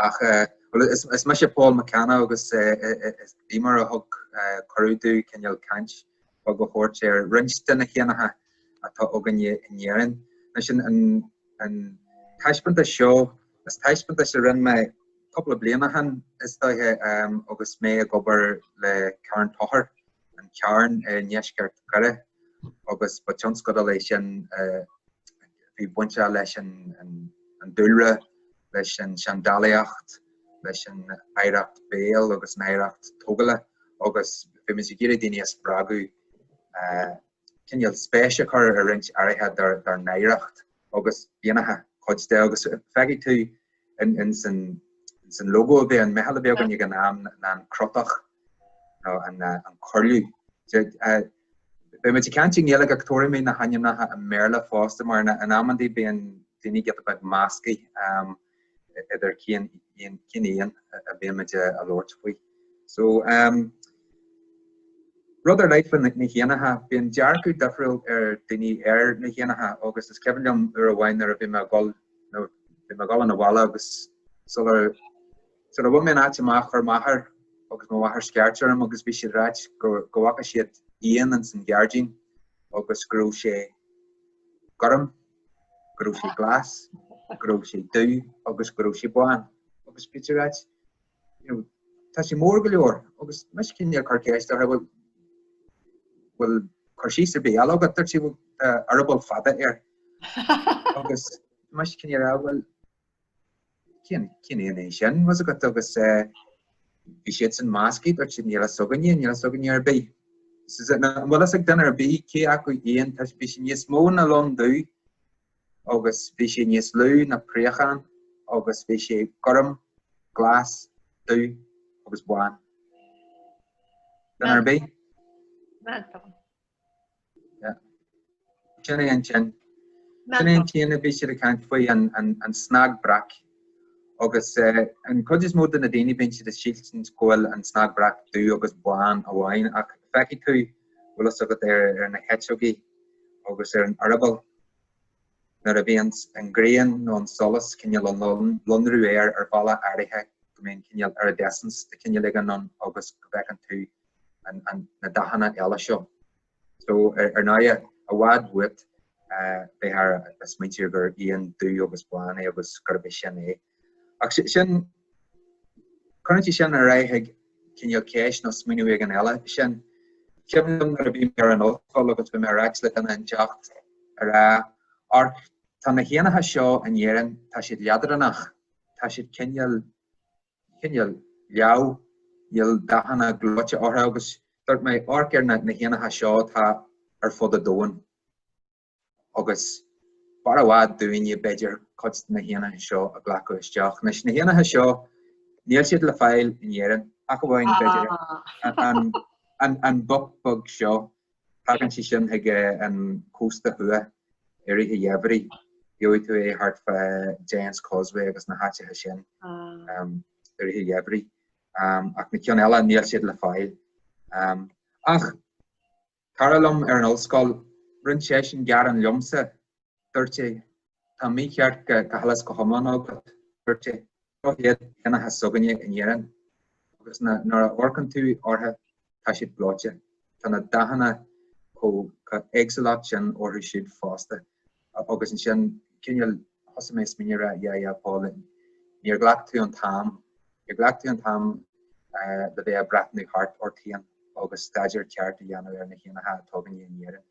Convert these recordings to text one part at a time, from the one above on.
Ach bhuel, is mise Paul McCann agus is é mar a thug cuireadh dom cineál caint bheag a thabhairt ar roinnt de na héanacha atá againne in Éirinn. Anois an taispeántas seo, is taispeántas a rinne mé cúpla bliana ó shin, is dóiche, agus mé ag obair le Carn Tóchair. an Carn i ndeisceart Dhoire agus ba tionscadal é sin a bhí bainteach leis an dúlra, leis an seandálaíocht, leis an oidhreacht bhéil agus an oidhreacht tógála agus bhí muid ag iarraidh daoine a spreagadh cineál spéis a chur ar roinnt áirithe dár n-oidhreacht agus b'éanacha cuid de agus feicfidh tú ins an logo a bhí ag an meitheal a bhí againn ag an am ná an crotach nó an cuirliú. Beidh muid ag caint i nGaeilge ach tabharfaidh mé na hainmneacha i mBéarla fosta mar in amandaí bíonn daoine giota beag measctha. idir cén cén éan a bhíonn muid ag labhairt faoi. So um, rud ar leith na, na héanacha, bíonn dearcadh difriúil ag daoine ar na héanacha agus is cuimhin liom uair amháin nuair a bhí mé ag gabháil nó bhí mé ag gabháil 'na bhaile agus sula sula bhain mé an áit amach chuir m'athair agus mo mháthair scairt orm agus bhí siad ag ráit go go bhfaca siad éan ins an ghairdín agus go raibh sé gorm go raibh sé glas, go raibh sé dubh agus go raibh sé bán agus bhí siad ag ráit you know tá sé mór go leor agus mise cineál ag cur ceist orthu bhuel bhfuil cur síos ar bith eile agat dúirt siad bhuel tá eireaball fada air agus mise cineál bhuel Cén cén éan é sin bhfuil fhios agat agus eh bhí siadsan measctha dúirt siad níl fhios againne níl fhios againne ar bith. Is is an bhfuil fhios ag duine ar bith cé acu éan atá sé bhí sé níos mó ná lon dubh agus bhí sé níos lú ná préachán agus bhí sé gorm, glas, dubh agus bán. Duine ar bith. Meantán. Sin é an t-éan. Sin é an t-éan a bhí siad ag caint faoi, an snag breac. Agus an chuid is mó de na daoine bíonn siad ag sílstin go bhfuil an snag breac dubh agus bán amháin ach feicfidh tú bhfuil fhios agat ar na heiteogaí agus ar an eireaball nuair a bhíonn an ghrian nó an solas cineál ag lonrú air ar bhealach áirithe go mbíonn cineál iridescence de chineál éigin ann agus go bhfeiceann tú na dathanna eile seo. So, ar ndóigh, i bhfad uait, bíthear ag smaointiú gur éan dubh agus bán é agus gurb é sin é. Ach sin, cuireann sé sin ar aghaidh chuig cineál ceist nó smaoineamh éigin eile. Sin, cuimhin liom nuair a bhí mé ar an ollscoil agus bhí mé ar ais le duine inteacht a rá, Amharc, tá na héanacha seo in Éirinn, tá siad leadránach, tá siad cineál chineál leamh, níl dathanna gleoite orthu agus dúirt mé, amharc ar na héanacha seo atá ar fud an domhain agus b'fhearr i bhfad dúinne, b'fhéidir, cuid de na héanacha seo a ghlacadh isteach. Anois, na héanacha seo, níl siad le fáil in Éirinn ach amháin, b'fhéidir, an boc beag seo. Tagann sé sin ag an cósta thuaidh i rith an gheimhridh, gheobhaidh tú é thart fá Giant's Causeway agus na háiteacha sin um, i rith an gheimhridh. Um, ach na ceann eile níl siad le fáil. Um, ach cara liom ar an ollscoil rinne seisean gearán liomsa dúirt sé, Tá an mícheart go huile is go hiomlán agat, dúirt sé, Seo iad éanacha s'againne in Éirinn, agus nuair a amharcann tú orthu, tá siad gleoite, tá na dathanna chomh éagsúlacht sin orthu siúd fosta. Agus ansin, cineál, thosaigh mé ag smaoineamh a rá, Yeah, yeah, Paul, níor ghlac tú an t-am, níor ghlac tú an t-am le bheith a' breathnú thart ort fhéin agus staidéar ceart a dhéanamh ar na héanacha atá againne in Éirinn.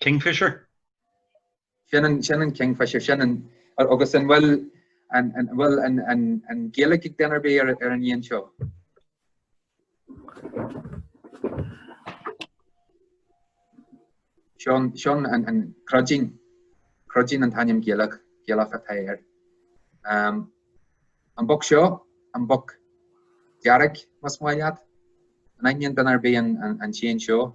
Kingfisher? Sin an, sin an Kingfisher, sin an, agus an bhfuil, an, an bhfuil an, an, an Gaeilge ag duine ar bith ar, ar an éan seo? Seán, Seán an, an Cruidín, Cruidín an t-ainm Gaeilge, Gaeilge atá air. Ehm, an boc seo, an boc dearg, más maith leat? An aithníonn duine ar bith an, an, an t-éan seo?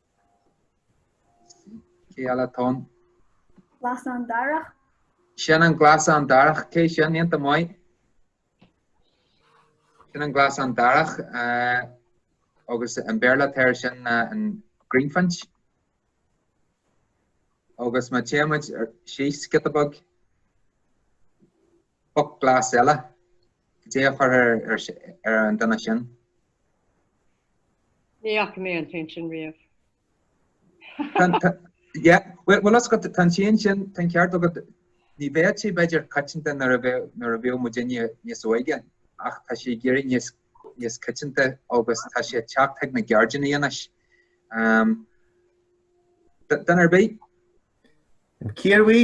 Cé eile atá ann? Glasán darach. Sin an glasán darach, cé sin, iontach maith. Sin an glasán darach, uh, agus an Béarla atá air sin uh, an greenfinch. Agus má théimid síos, giota beag. Boc glas eile. Caidé a chuirfeá ar an duine sin? Ní fhaca mé an t-éan sin riamh. Yeah, bhfuil a fhios agat tá an t-éan sin, tá an ceart agat, ní bheadh sé b'fhéidir coitianta nuair a bheadh, nuair a bhíodh muidinne níos óige ach tá sé ag éirí níos, níos coitianta agus tá sé ag teacht chuig na gairdíní anois. Duine ar bith? Ciarraí?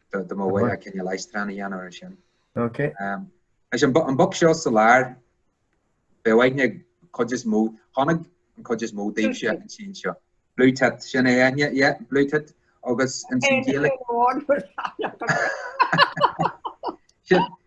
dá mba mhaith leat cineál aistriúchán a dhéanamh air sin. Ok. Is an an boc seo sa lár beidh aithne ag an cuid is mó chonaic an cuid is mó daoibhse an t-éan seo. Blue tit sin é Eithne yeah blue tit agus ins an Ghaeilge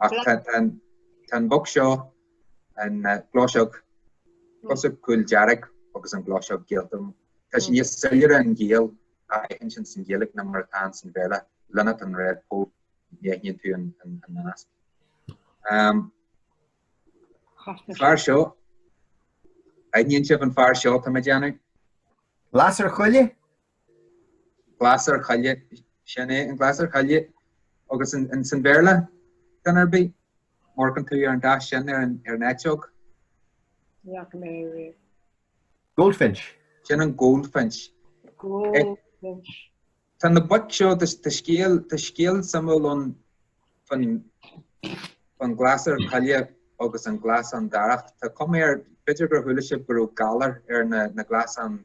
Ach tá an boc seo, an gleoiseach cosúil cúldearg agus an gleoiseach gheal, tá sé níos soiléire an gaol a aithint ins an Ghaeilge ná mar atá ann san Bhéarla, linnet and redpoll, ní aithníonn tú an nasc. Fear seo, aithníonn sibh an fear seo tá mé ag déanamh? Lasair choille? Glasair choille, sin é, an glasair choille agus ins an Bhéarla duine ar bith. Má amharcann tú ar an dath sin ar an ar an eiteog. Ní fhaca mé é riamh. Goldfinch. Sin an goldfinch. Goldfinch. Tá na boic seo, tá scéal, tá scéal suimiúil ann fán fán glasair coille agus an glasán darach. Tá cuma air, b'fhéidir gur chuala sibh go raibh galar ar na na glasáin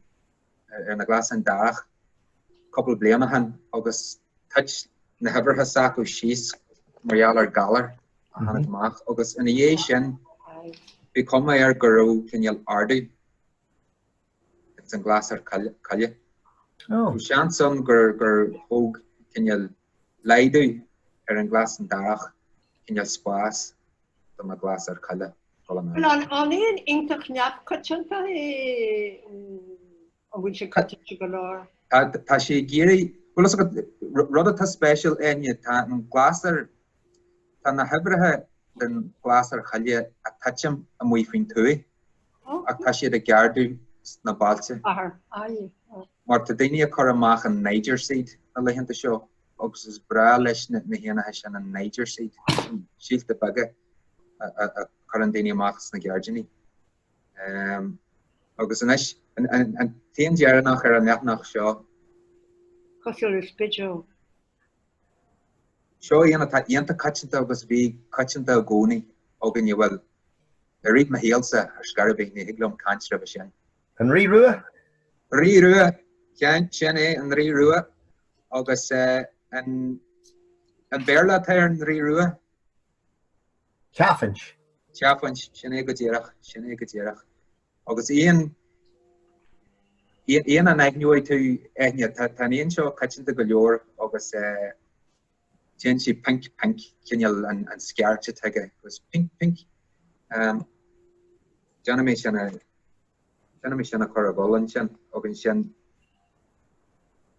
ar na glasáin darach cúpla bliain ó shin agus thit na huimhrithe s'acu síos mar gheall ar galar a tháinig amach agus ina dhiaidh sin bhí cuma air go raibh cineál ardú ag an glasair coille. Ó seans ann gur thug cineál laghdú ar an ghlasán darach cineál spás do na glasair coille dhul in airde. An éan iontach neamhchoitianta é nó an bhfuil sé coitianta go leor? Tá sé ag éirí, bhfuil fhios agat, rud atá spéisiúil Eithne, tá an glasair, tá na huimhrithe den ghlasair choille ag titim amuigh faoin tuaith ach tá siad ag ardú sna bailte. Mar tá daoine ag cur amach an Niger Seed na laethanta seo. agus is breá leis na héanacha sin an Niger Seed, síolta beaga a chuireann daoine amach sna gairdíní. Agus anois an t-éan deireanach ar an leathanach seo. Cosúil le spideog. Seo éan atá iontach coitianta agus bhí coitianta i gcónaí againne, bhuel, i rith mo shaolsa ar scor ar bith, ní thig liom caint roimhe sin. An Rí Rua? Rí Rua, ceann, sin é, an Rí Rua, agus an Béarla atá ar an Rí Rua? Chaffinch. Chaffinch, sin é go díreach, sin é go díreach. Agus éan éan an aithneoidh tú Eithne, tá an éan seo coitianta go leor agus Déanann sé pinc pinc cineál an scairt atá aige agus pinc pinc déanfaidh mé sin a déanfaidh mé sin a chur ag gabháil ansin agus ansin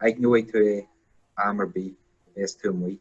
aithneoidh tú é am ar bith a bhéas tú amuigh.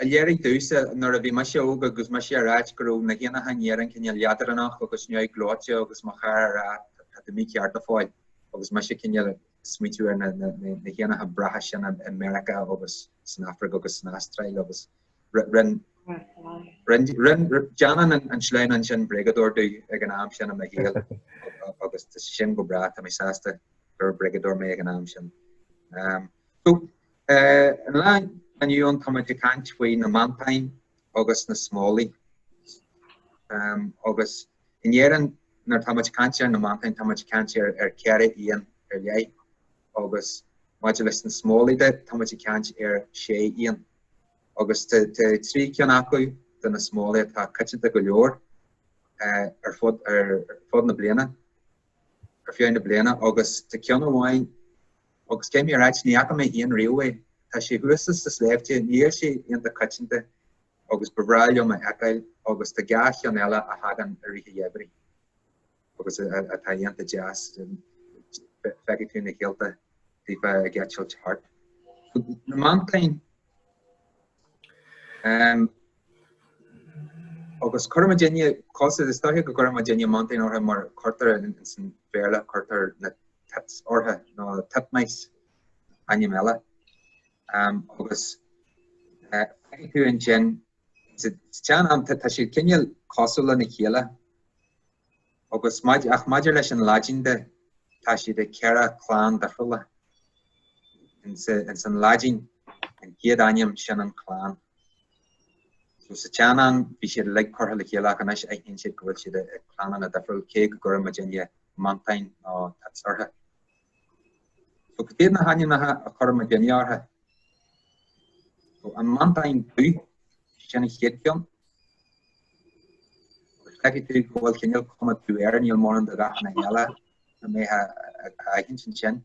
A léirigh domhsa, nuair a bhí mise óg agus mise ag ráit, go raibh na héanacha in Éirinn cineál leadránach agus neamhghleoite agus mo chara ag ráit, tá tú mícheart a Phóil, agus mise cineál ag smaoitiú ar na héanacha breátha sin i Meiriceá agus san Afraic agus san Astráil agus rinn déanann an sleamhnán sin bréagadóir domh ag an am sin i mo shaol agus sin go breá, tá mé sásta gur bréagadóir mé ag an am sin. An lá inniu ann tá muid ag caint faoi na meantáin agus na smólaí. agus in Éirinn nuair atá muid ag caint ar na meantáin tá muid ag caint ar ceithre éan ar leith agus maidir leis na smólaí de tá muid ag caint ar sé éan. Agus tá trí ceann acu de na smólaí atá coitianta go leor ar fud ar fud na bliana ar feadh na bliana agus tá ceann amháin Agus caithfidh mé a ráit, ní fhaca mé féin riamh é. Tá sé thuas sna sléibhte, níl sé iontach coitianta agus ba bhreá liom é a fheiceáil agus tá dhá cheann eile a thagann i rith an gheimhridh agus atá iontach deas, feicfidh tú na céadta daofa ag eitilt thart. Na meantáin agus cuireann muidinne cos, is dóiche go gcuireann muidinne meantáin orthu mar cuirtear san Bhéarla, cuirtear na Tits ortha nó Titmice ainm eile agus feicfidh tú ansin sa tsean-am tá siad cineál cosúil lena chéile agus ach maidir leis an Laidin de tá siad i gceithre clann difriúla. Ins an Laidin an chéad ainm sin an chlann. So sa tsean-am bhí siad uilig curtha le chéile ach anois aithníonn siad go bhfuil siad i gclannanna difriúil, cé go gcuireann muidinne meantáin nó tits ortha. So cad iad na hainmneacha a chuireann muidinne ortha? So an meantán dubh, sin an chéad cheann. Agus feicfidh tú go bhfuil cineál cuma dubh air, níl mórán de dhathanna eile na méithe a aithin sin sin.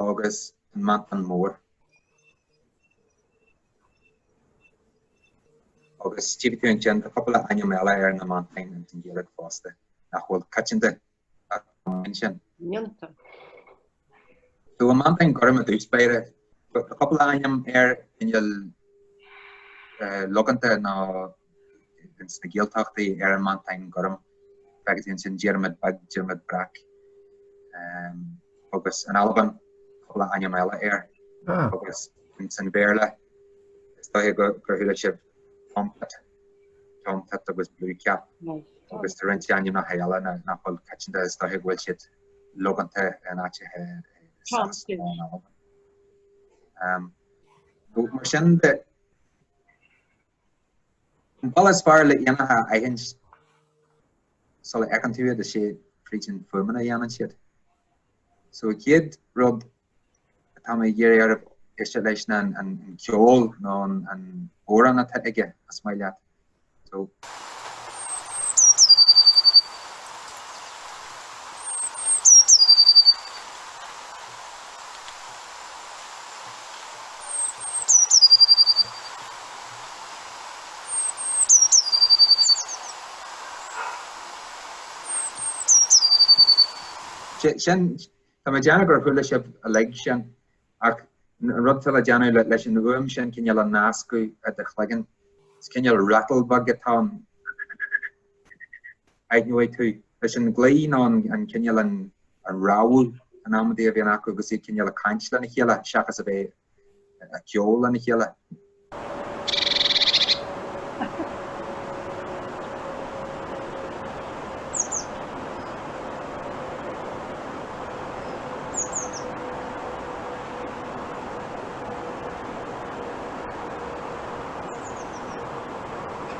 agus an meantán mór. Agus tchífidh tú ansin tá cúpla ainm eile ar na meantáin ins an Ghaeilge fosta nach bhfuil coitianta ach ansin. Mianta. So an meantán gorm i dtús báire tá cúpla ainm air cineál eh, logánta nó sna Gaeltachtaí ar an Meantán Gorm, feicfidh tú ansin Diarmaid Beag, Diarmaid Breac, agus an Alban, cúpla ainm eile air. Agus san Béarla, is dóiche gur chuala sibh Tomtit, Tomtit agus Blue Cap, agus tá roinnt ainmneacha eile nach bhfuil coitianta, is dóiche go bhfuil siad logánta in áiteacha i Sasana nó in Albain. Mar sin de, An bealach is fearr le héanacha a aithint sula fheiceann tú iad is ea fríd an fuaimeanna a dhéanann siad. So an chéad rud atá mé ag iarraidh oraibh éisteacht leis ná an ceol nó an amhrán atá aige más maith leat. So Sin, tá mé ag déanamh gur chuala sibh uilig sin, ach an rud atá le déanamh leis an fhuaim sin cineál a nascadh i do chloigeann, is cineál rattle beag atá ann. aithneoidh tú. Leis an glao nó an cineál, an rámhaille, an amaidí a bhíonn acu agus iad cineál ag caint lena chéile seachas a bheith ag ceol lena chéile.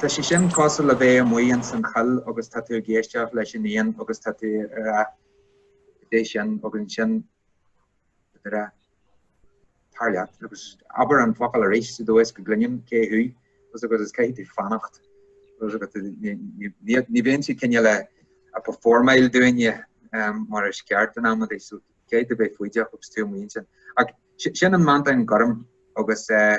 Tá sé sin cosúil le bheith amuigh ins an choill agus tá tú ag éisteacht leis an éan agus tá tú ag rá cad é sin agus ansin tá tú ag rá tar leat agus abair an focal arís sa dóigh is go gcluinim cé thú agus agus is caithfidh tú fanacht agus agus tú- ní- ní- ní- ní bhíonn siad cineál ag performáil dúinne um, mar is ceart an am so caithfidh tú a bheith foighdeach agus tú amuigh ansin. Ach si- sin an meantán gorm agus uh,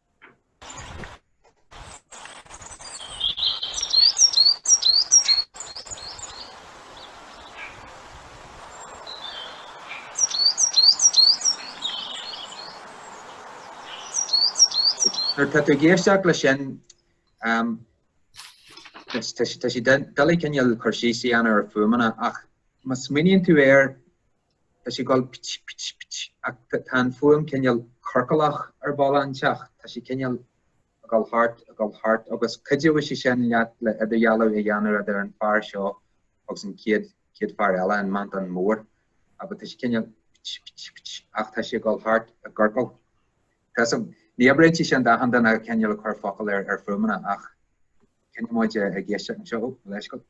Nuair atá tú ag éisteacht leis sin, tá sé doiligh cineál cur síos a dhéanamh ar na fuaimeanna ach má smaoiníonn tú air, Tá sí ag gol pit pit pit ach tá an fuaim cineál ciorclach ar bhealach inteacht. Tá sí cineál ag gol thart, ag gol thart agus cuideoidh sé sin leat le idirdhealú a dhéanamh idir an fear seo agus an chéad, chéad fear eile, an meantán mór. Agus tá sí cineál pit pit pit ach tá sí ag gol thart, i gciorcal. Tá so, ní oibríonn sé sin d'achan duine a cineál ag cur focal ar, ar fuaimeanna ach coinneoidh muid ag éisteacht anseo, ó, leis go fóill.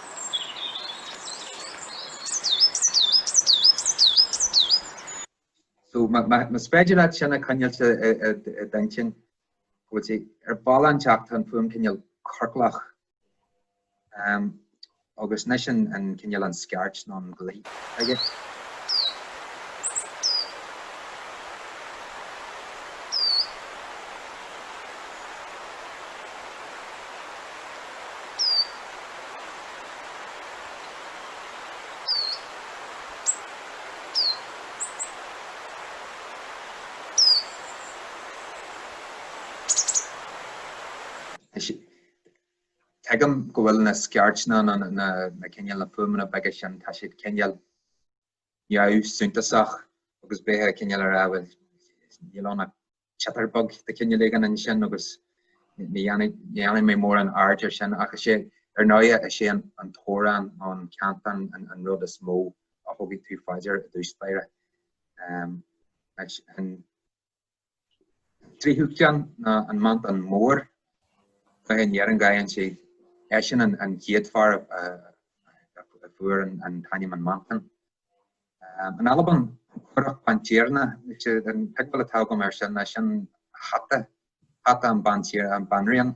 So, más féidir leat sin a choinneáilt i d'intinn, go bhfuil sé ar bhealach inteacht, tá an fuaim cineál ciorclach. Agus anois an cineál an scairt nó an glao aige. Tuigim go bhfuil na scairteanna, na cineál, na fuaimeanna beaga sin, tá siad cineál. neamhshuntasach agus beidh tú cineál ag rá bhuel, níl ann ach chatter beag de chineál éigin ansin agus ní dhéanfaidh, ní dhéanfaidh mé mórán aird ar sin ach is é, ar ndóighe is é an t-amhrán, an cantain, an rud is mó a thugann tú fá dear i dtús báire. An. Tríú ceann ná an meantán mór, cluiche in Éirinn gabhann siad, eisean an chéad fear a fuair an t-ainm an meantán. In Albain, an currac baintiarna, an tuigbheáil atá agam air sin, sin hata, hata an Banríon.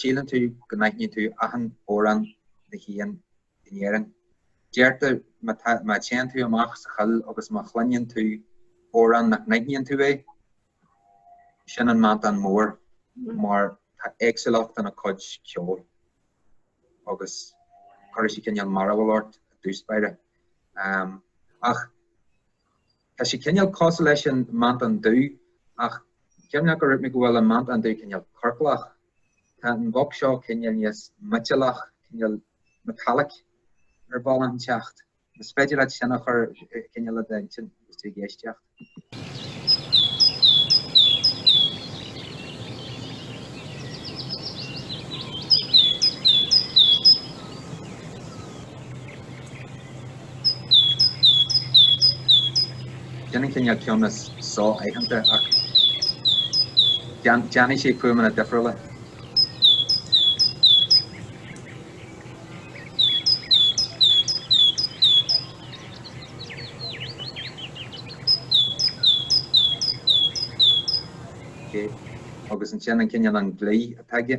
Síleann tú go n-aithníonn tú achan amhrán na n-éan in Éirinn. Deirtear má tá, má téann tú amach sa choill agus má chluineann tú amhrán nach n-aithníonn tú é, sin an meantán mór mar tá éagsúlacht ina cuid ceoil agus cuirfidh sé cineál mearbhall ort i dtús báire. Ach. Tá sé cineál cosúil leis an meantán dubh, ach cuimhnigh gur dhúirt mé go bhfuil an meantán dubh cineál ciorclach. Tá an boc seo cineál níos miotalach, cineál metallic, ar bhealach inteacht. Is féidir leat sin a chur cineál i d'intinn agus tú ag éisteacht. Déanann cineál ceann is so-aitheanta ach déanfaidh sé fuaimeanna difriúla. Agus ansin an cineál, an glaoch atá aige.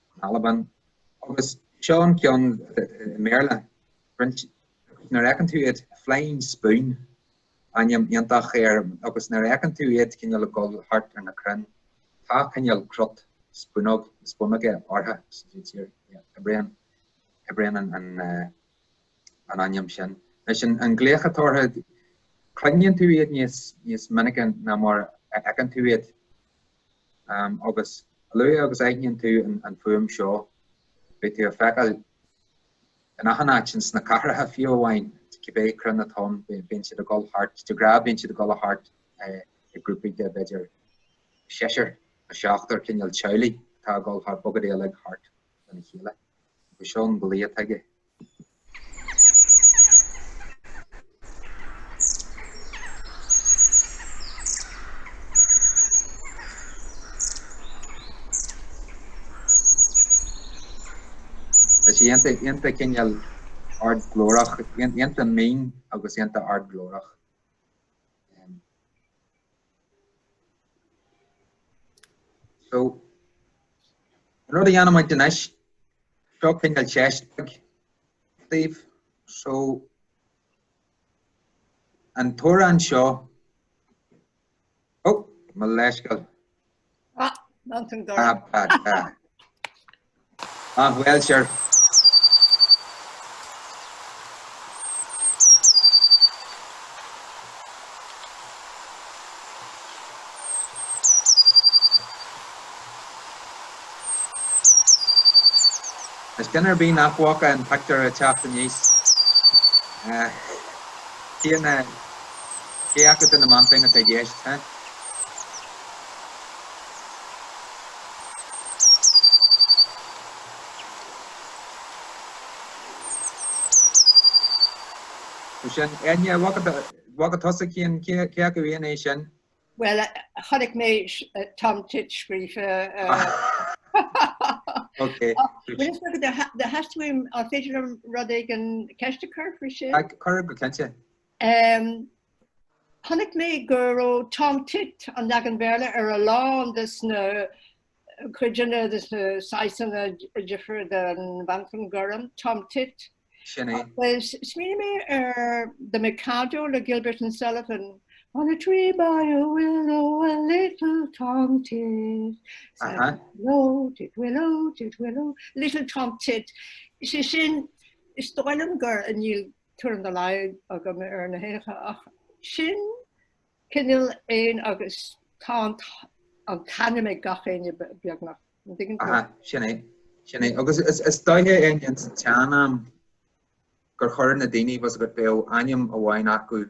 in Albain, agus seo an ceann i mBéarla, roinnt, agus nuair a fheiceann tú iad, Flying Spoon, ainm iontach air, agus nuair a fheiceann tú iad cineál ag dul thart ar na crainn, tá cineál crot spúnóg, spúnóige orthu, oibríonn, oibríonn an, an ainm sin. Anois an, an glaoch atá orthu, cluineann tú iad níos, níos minice ná mar a fheiceann tú iad. Agus a luaithe agus a aithníonn tú an fuaim seo, beidh tú á feiceáil in achan áit, sna cathracha fiú amháin, cibé crainn atá ann, bíonn siad ag dul thart, de ghnáth bíonn siad ag dul thart i grúpaí de b'fhéidir seisear nó seachtar, cineál teaghlaigh atá ag dul thart, bogadh uilig thart. lena chéile, agus seo an glaoch atá aige. Tá sé iontach, iontach cineál ard glórach iontach mín agus iontach ard glórach. So, an rud a dhéanfaidh muid anois, seo cineál teist bheag, Steve. So, an t-amhrán seo, oh, mo leithscéal. Ah, ná tan dá. Ah, ah, ah. Ah, bhuel, sure. Is duine ar bith nach bhfaca an pictiúr ag teacht aníos. Eh, cé na, cé acu de na meantáin atá i gceist, huh? Sin é, nidh bhog a tosaigh féin, cé acu éan é sin? Bhuel, chonaic mé Tom Tit scríofa. Ok. Do theastaigh uaim, an féidir liom rud éigin, ceist a chur faoi sin? Cuir go cinnte. Ehm. Chonaic mé go raibh Tom Tit, an leagan Béarla, ar a lán de na cuideanna, de na saghsanna difir den Mheantán Gorm, Tom Tit. Sin é. Agus smaoinigh mé ar The Mikado le Gilbert and Sullivan, On a tree by a willow a little Tom Tit. Aha. Willow, tit, willow, tit, willow, little Tom Tit. Sé sin, is dóigh liom gur níl tuairim dá laghad agam ar na héanacha ach sin cineál éan agus tá an t-ainm ag gach éinne beagnach, an dtuigeann tú? Ach sin é, sin é. Agus is dóiche ins an tsean-am gur chuir na daoine, tá fhios agat, bhí ainm amháin acu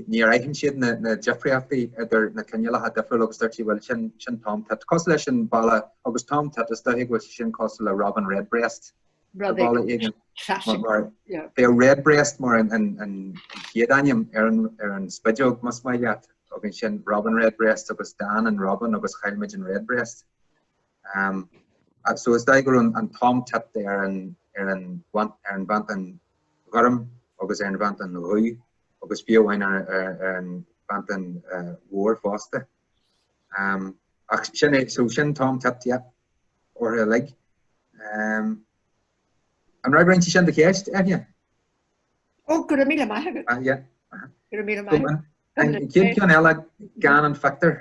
níor aithin siad na difríochtaí idir na cineálacha difriúla agus dúirt siad, bhuel, sin Tom Tit. Cosúil leis an Bhéarla agus Tom Tit, is dóiche go bhfuil sé sin cosúil le Robin Redbreast sa Bhéarla againn. Bhí Redbreast mar an chéad ainm ar an spideog, más maith leat, agus ansin Robin Redbreast agus d'fhan an Robin agus chaill muid an Redbreast. So is dóiche go raibh an Tom Tit ar an Ghorm agus ar an Mheantán Dhubh agus fiú amháin ar an Mheantán Mhór fosta. Ach sin é, so sin Tom Tit type orthu uilig. An bhfreagraíonn sin do cheist, Eithne? Ó, go raibh míle maith agat. Ah, yeah. Go raibh míle maith agat. Cén ceann eile gan an phictiúr?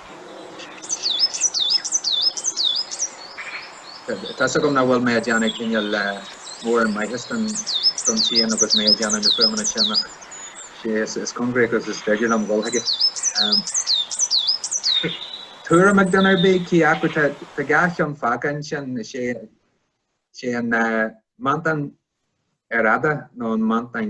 Tá's agam nach bhfuil mé a' déanamh cineál mórán maitheas don tseisiún agus mé a' déanamh na fuaimeanna sin ach sé chomh cóngarach agus is féidir liom dhul chuige. Tuairim ag duine ar bith cé acu tá, tá dhá cheann fágtha ansin, is é, is é an Meantán earrfhada nó an Meantán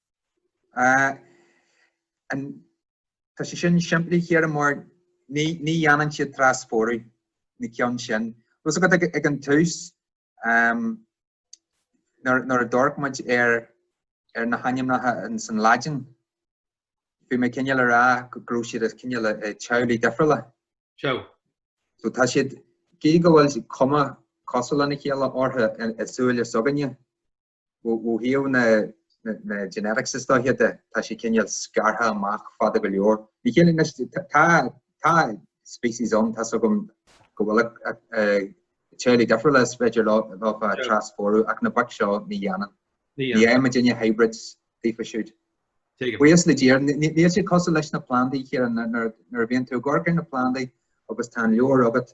Tá sé sin simplí, a Chiara, mar ní dhéanann siad trasphórú na cinn sin. Tá's agat ag an tús, nuair a d'amharc muid ar na hainmneacha ins an Laidin, bhí mé cineál a rá go raibh siad i gcineál i dteaghlaigh difriúla. Sea. So tá siad, gidh go bhfuil cuma cosúil lena chéile orthu i súile s'againne, Ó thaobh na genetics is dóiche de, tá sé cineál scartha amach fada go leor. Óna chéile anois, tá species ann, tá's agam go bhfuil i dteaghlaigh difriúla is féidir leofa trasphórú, ach na boic seo ní dhéanann. Ní fhaigheann daoine hybrids daofa siúd. Buíochas le Dia, níl siad cosúil leis na plandaí, Ciara, nuair a bhíonn tú ag amharc ar na plandaí agus tá an leabhar agat,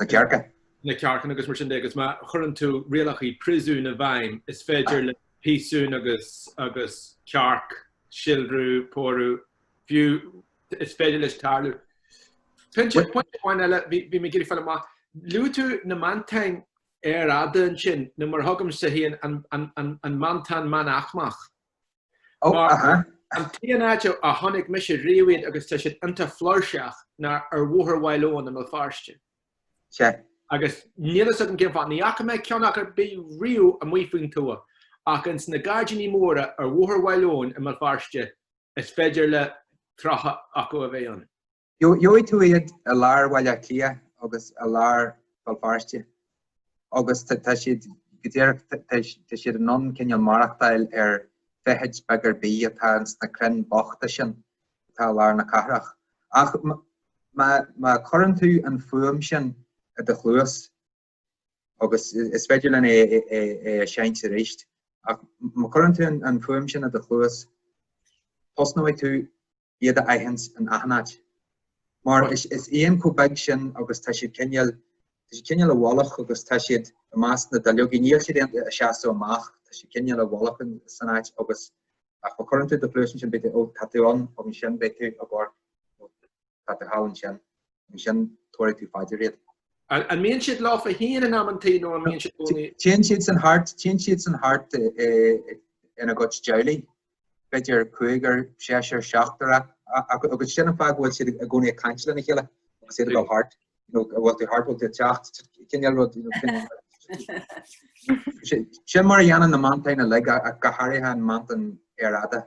na cearca. na cearca agus mar sin de, agus má chuireann tú rialacha príosúin i bhfeidhm, is féidir le piasún agus agus cearc síolrú, pórú, fiú is féidir leis tarlú. Pointe pointe amháin eile, bhí bhí mé ag iarraidh fáil amach, luaigh tú na meantáin earrfhada ansin, nó mar a thugaimse féin an an an an meantán meánaicmeach. Oh, Mar, aha. An t-aon áit a chonaic mise riamh iad agus tá siad iontach flúirseach ná ar Bhóthar Mhaigh Lón i mBéal Feirste. Sea. Agus níl fhios agam cén fáth, ní fhaca mé ceann acu ar bith riamh amuigh faoin tuath, ach ins na gairdíní móra ar Bhóthar Mhaigh Lón i mBéal Feirste is féidir le tríocha acu a bheith ann. Gheobhaidh tú iad i lár Bhaile Átha Cliath agus i lár Bhéal Feirste agus tá siad go díreach, tá siad in ann cineál maireachtáil ar feithid beag ar bith atá ins na crainn bochta sin atá i lár na cathrach. Ach má chuireann tú an fuaim sin i do chluas, agus is féidir linn é a seinnt arís. Ach má chuireann tú an fuaim sin i do chluas, tosnóidh tú iad a aithint in achan áit. Mar is éan chomh beag sin agus tá siad cineál, tá siad cineál i bhfolach agus tá siad i measc na duilleogaí, níl siad ag seasamh amach, tá siad cineál i bhfolach san áit agus ach má chuireann tú do chluas ansin beidh tú, ó, tá tú ann, ansin, beidh tú i bpáirc. Tá tú thall ansin. Ansin tabharfaidh tú fá dear iad. An mbíonn siad leofa féin in amantaí nó an mbíonn siad i gcónaí? Téann siadsan thart, téann siadsan thart ina gcuid teaghlaigh, b'fhéidir cúigear, seisear, seachtar agus sin an fáth go bhfuil siad i gcónaí ag caint lena chéile agus iad a bheith thart, bhfuil tú thart, bhfuil tú ag teacht, cineál rud sin mar a dhéanann na meantáin uilig go háirithe an meantán earrfhada.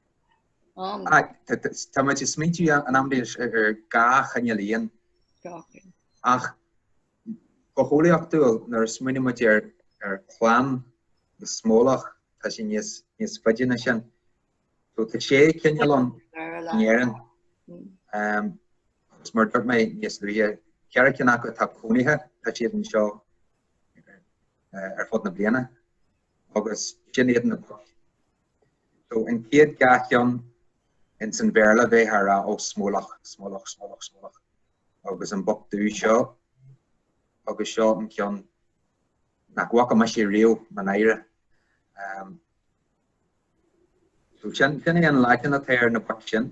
Tá muid ag smaointiú in am déis ar dhá chineál éan ach go heolaíochtúil nuair a smaoineann muid ar chlann na smólach tá sé níos faide ná sin. So tá sé cineál ann in Éirinn agus mar dúirt mé níos luaithe ceithre cinn acu atá cónaithe tá siad anseo ar fud na bliana. agus sin iad na boic. So an chéad dhá cheann ins an Bhéarla bheith á rá oh smólach, smólach, smólach, smólach agus an boc dubh seo agus seo an ceann nach bhfaca mise riamh mo náire. Um, so sin, sin é an Laidin atá ar na boic sin.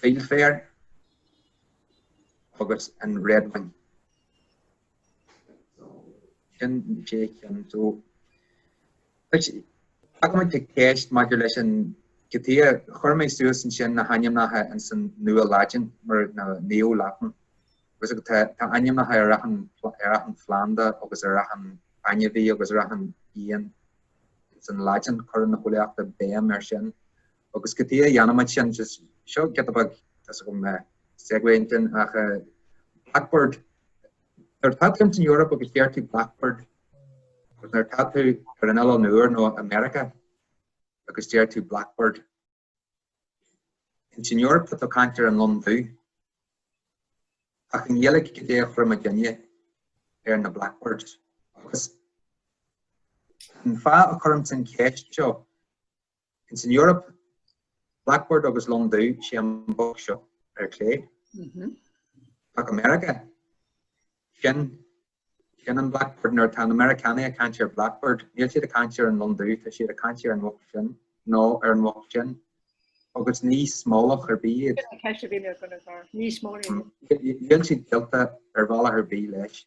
Fieldfare agus an redwing. Sin na sé cheann. So tacaímid le ceist maidir leis sin. Cad chuige chuir mé suas ansin na hainmneacha ins an Nua-Laidin, mar na Neo-Latin, agus tá ainmneacha ar achan ar achan phlanda agus ar achan ainmhí agus ar achan éan ins an Laidin. Cuireann na heolaíochta béim air sin. Agus cad chuige a ndéanaimid sin, seo giota beag, tá fhios agam, segue ansin, ach Blackbird, nuair atá tú ins an Eoraip agus deir tú Blackbird, agus nuair atá tú ar an oileán úr nó i Meiriceá agus deir tú Blackbird, ins an Eoraip tá tú caint ar an lon dubh, ach i nGaeilge cad é a chuireann muidinne ar na Blackbirds. Agus an fáth a chuirimse an cheist seo, Ins an Eoraip, Blackbird agus Lon Dubh is é an boc seo ar clé. Téigh go Meiriceá sin sin an Blackbird nuair atá na Meiriceánaigh ag caint ar Blackbird, níl siad ag caint ar an Lon Dubh, tá siad ag caint ar an bhoc sin nó ar an bhoc sin. agus ní smólach ar bith ní smó. Níl sé gaolta ar bhealach ar bith leis.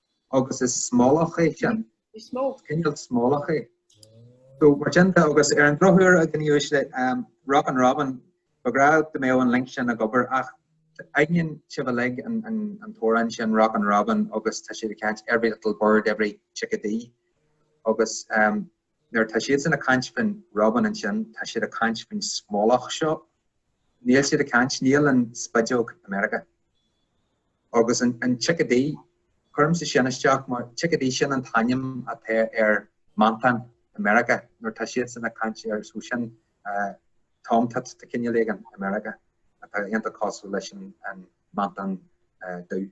agus is smólach é sin. Cineál smólach é. So mar sin de agus ar an drochuair a gníomhaigh sé um, Rockin' Robin, ba cheart go mbeadh an link sin ag obair ach aithníonn sibh uilig an, an, an t-amhrán sin Rockin' Robin agus tá siad ag caint every little bird, every chickadee agus um, Nuair atá siadsan ag caint faoin Robin ansin, tá siad ag caint faoin smólach seo. Níl siad ag caint, níl an spideog i Meiriceá. Agus an, an chickadee, cuirimse sin isteach mar, chickadee, sin an t-ainm atá ar meantán i Meiriceá, nuair atá siadsan ag caint ar, so sin eh, tomtit de chineál éigin i Meiriceá, atá iontach cosúil leis an, an meantán eh, dubh.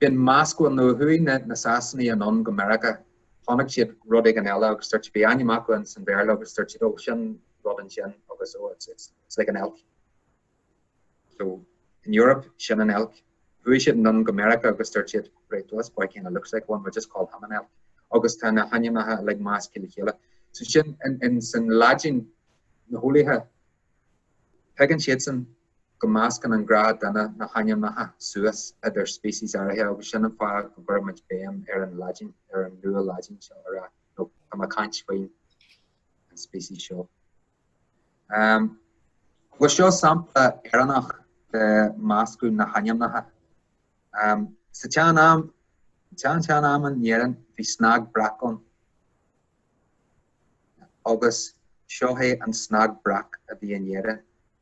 Bíonn meascán bhuel nuair a chuaigh na, na Sasanaigh anonn go Meiriceá, chonaic siad rud éigin eile agus dúirt siad bhí ainm acu ins an Bhéarla agus dúirt siad oh sin rud ansin agus oh it's, it's, it's like an elk. So in Europe sin an elk. Chuaigh siad anonn go Meiriceá agus dúirt siad right this boy kind of looks like one we'll just call him an elk agus tá na hainmneacha uilig measctha le chéile. So sin in, in san Laidin na heolaithe tuigeann siadsan go meascann an gnáthdhuine na hainmneacha suas idir speicis áirithe agus sin an fáth go gcuirimid béim ar an Laidin, ar an Nua-Laidin seo ar, ó tá mé ag caint faoin an speicis seo. Um, bhuel seo sampla Éireannach de meascadh na hainmneacha. Um, sa tsean-am, tsean tsean-am in Éirinn bhí snag breac ann. Agus seo é an snag breac a bhí in Éirinn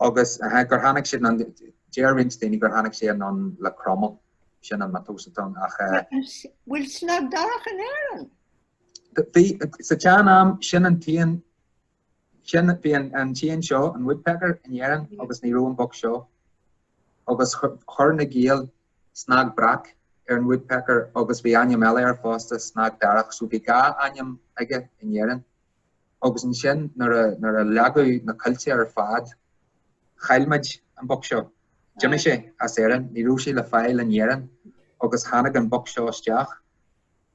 Agus gur tháinig sin, deir roinnt daoine gur tháinig sé anonn le Cromaill, sin an miotas atá ann, ach eh. Bhfuil Snag Darach in Éirinn? Bhí, sa tsean am, sin an t-éan, sin, bhí an t-éan seo, an woodpecker, in Éirinn agus ní raibh an boc seo. Agus chuir na Gaeil Snag Breac ar an woodpecker agus bhí ainm eile air fosta, Snag Darach, so bhí dhá ainm aige in Éirinn. agus ansin nuair a leagadh na coillte ar fad, chaill muid an boc seo. D'imigh sé as Éirinn, ní raibh sé le fáil in Éirinn agus tháinig an boc seo isteach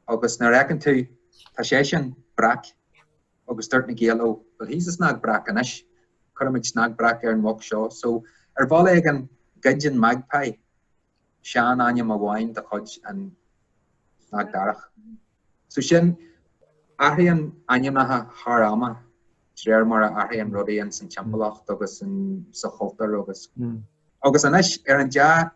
agus nuair a fheiceann tú, tá seisean breac agus dúirt na Gaeil, oh, well, he's a snag breac anois, cuirfimid snag breac ar an bhoc seo. So, ar bhealach éigin, ghoid an magpie. seanainm amháin de chuid an Snag Darach. So sin, athraíonn ainmneacha thar ama de réir mar a athraíonn rudaí ins an timpeallacht agus sa chultúr agus agus anois ar an dea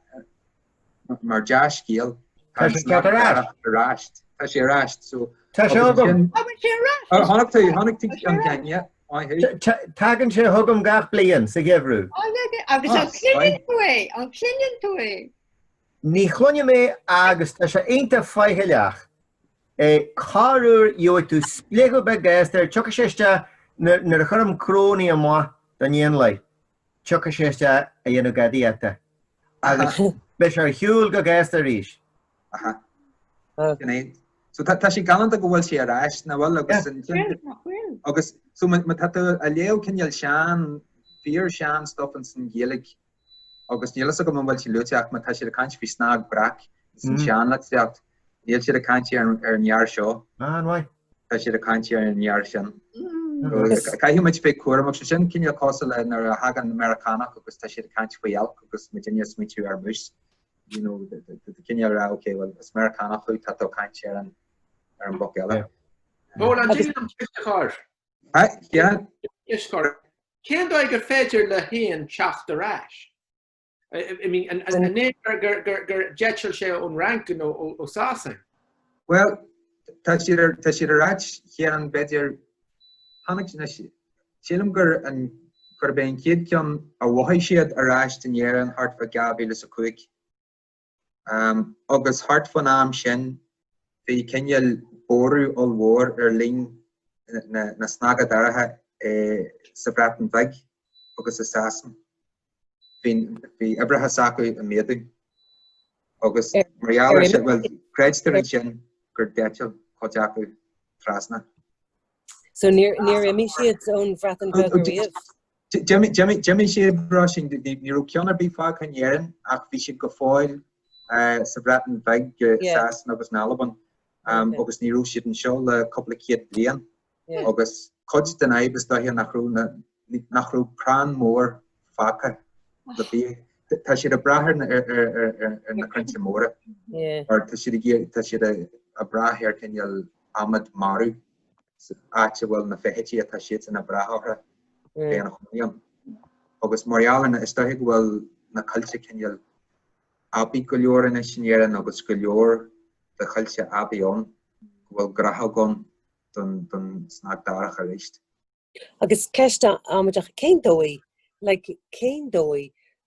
mar dea scéal tá an Snag Darach ar ais. Tá sé ar ais. So, tá sé agam. Tá sé ar ais. Chonaic tú, chonaic tú ceann, yeah. Tagann sé chugam gach bliain sa gheimhreadh. Agus an cluineann tú é? An cluineann tú é? Ní chluinim é agus tá sé iontach faichilleach. Corruair gheobhaidh tú spléachadh beag go gasta, tiocfaidh sé isteach nuair a chuirim cnónna amach don éanlaith. tiocfaidh sé isteach a dhéanamh gadaíochta agus beidh sé ar shiúl go gasta arís. Aha. Sin é. So tá tá sé galánta go bhfuil sé ar ais, nach bhfuil agus an Bhuel, nach bhfuil. agus so má má tá tú ag léamh cineál sean fíor sean stuff ins an Ghaeilge agus níl fhios agam an bhfuil sé luaite ach má tá siad ag caint faoi snag breac ins an seanlitríocht níl siad ag caint ar ar an fhear seo. An-mhaith. Tá siad ag caint ar an fhear sin. Caithfidh muid bheith cúramach, agus sin cineál cosúil le nuair a thagann na Meiriceánaigh agus tá siad ag caint faoi elk agus muidinne ag smaointiú ar moose. You know, cineál a rá ok, bhuel is Meiriceánach thú, tá tú ag caint ar an ar an boc eile. Bhuel an díol an t-uiscecháir. Ha, yeah. Uiscecháir. Cén dóigh ar féidir le héan teacht ar ais? I mean, an é gur d'eitil sé ón Fhrainc nó ó Sasain? Bhuel, tá siad ar ais, cheann, b'fhéidir, tháinig, sílim gur gurb é an chéad cheann a mhothaigh siad ar ais in Éirinn thart fá 2005. agus thart fán am sin bhí cineál borradh ollmhór ar líon na snaga daracha sa Bhreatain Bheag agus i Sasain. Bhí uimhreacha s'acu ag méadú agus mar gheall ar sin, bhuel, creidtear ansin gur d'eitil cuid acu trasna. So níor imigh siad ón Bhreatain Bheag ariamh? D'imigh siad, mar sin, ní raibh ceann ar bith fágtha in Éirinn ach bhí siad go fóill sa Bhreatain Bhig, Sasana agus in Albain agus ní raibh siad anseo le cúpla céad bliain agus cuid den fhadhb is dóiche nach raibh crann mór fágtha le bídh. Tá siad ag brath ar na crainnte móra mar tá siad ag brath ar cineál adhmad marbh. áit a bhfuil na feithidí atá siadsan ag brath orthu ina chónaí ann. Agus mar gheall ar na, is dóiche go bhfuil na coillte cineál aibí go leor anois in Éirinn agus go leor de choillte aibí ann go bhfuil gnáthóg ann don don snag darach aríst. Agus ceist amaideach, cén dóigh, like, cén dóigh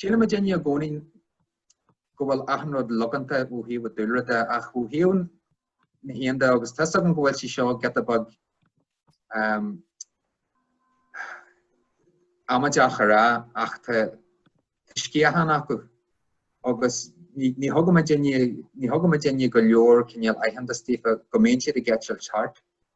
Síleann muidinne i gcónaí go bhfuil achan rud logánta ó thaobh an dúlra de ach ó thaobh na héan de agus tá a fhios agam go bhfuil sí seo giota beag amaideach a rá ach tá sciatháin acu agus ní thugann muid, ní thugann muidinne go leor cineál aitheantas daofa go mbíonn siad ag eitilt thart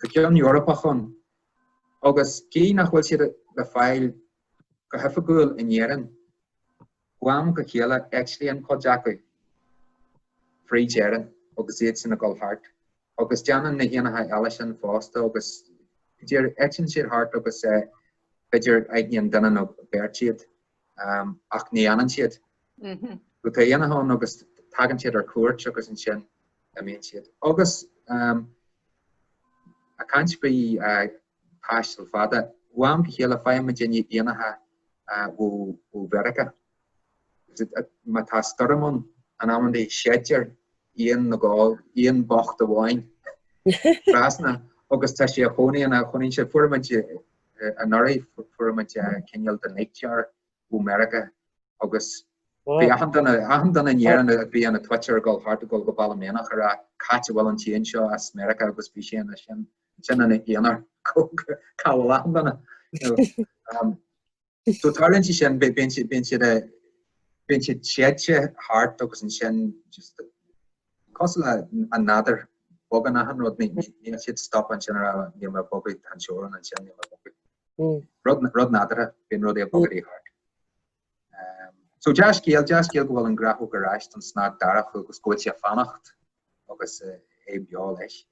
tá ceann Eorpach ann agus gidh nach bhfuil siad le fáil go hoifigiúil in Éirinn, ó am go chéile eitlíonn cuid acu fríd Éirinn agus iadsan ag dul thart agus déanann na héanacha eile sin fosta agus b'fhéidir eitlíonn siad thart agus b'fhéidir aithníonn duine nó beirt iad. ach ní fhanann siad. Go tá éanacha ann agus tagann siad ar cuairt agus ansin imíonn siad. Agus ag caint faoi taisteal fada, ó am go chéile faigheann muidinne éanacha ó Mheiriceá. Má tá stoirm ann amannaí séidtear éan ag dul, éan bocht amháin trasna agus tá sé ina chónaí ann, chónaíonn sé, fuair muid Anuraidh, fuair muid cineál de Nightjar ó Mheiriceá agus bhí achan duine in Éirinn a bhí ina twitcher ag dul thart ag dul go Baile Meánach ag rá cá háit a bhfuil an t-éan seo as Meiriceá agus bhí seisean ansin ina aonar, cá bhfuil achan duine? So tarlaíonn sé sin, bíonn siad, bíonn siad, bíonn siad séidte thart agus ansin just cosúil leis an nádúr bogann achan rud, ní, ní, níl siad stop ansin ar a níl mé a' bogadh an teorainn ansin níl mé a' bogadh. Mm. Rud, rud nádúrtha, bíonn rudaí a' bogadaí thart. Um, so dea-scéal, dea-scéal go bhfuil an grathóg ar ais don snag darach agus go bhfuil sé a' fanacht agus uh, é beo leis.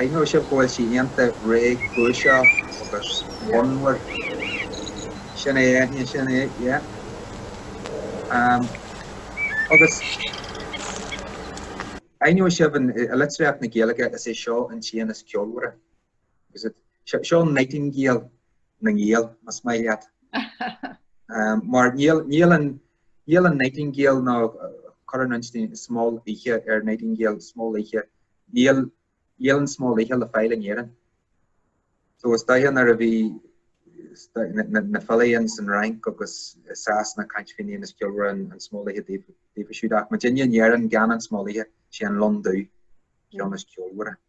Aithneoidh sibh go bhfuil sí iontach réchúiseach agus fonnmhar. Sin é Eithne, sin é, yeah. Agus aithneoidh sibh i litríocht na Gaeilge is é seo an t-éan is ceolmhaire. Is it? Seo an nightingale na nGael, más maith leat. Mar níl an Níl an Nightingale nó cuireann muid Smól Oíche ar Nightingale Smól Oíche. Níl níl an Smól Oíche le fáil in Éirinn. So is dóiche nuair a bhí na filí ins an Fhrainc agus i Sasana a' caint faoin éan is ceolmhaire an Smól Oíche daofa daofa siúd ach muidinne in Éirinn gan an Smól Oíche sé an Lon Dubh an ceann is ceolmhaire.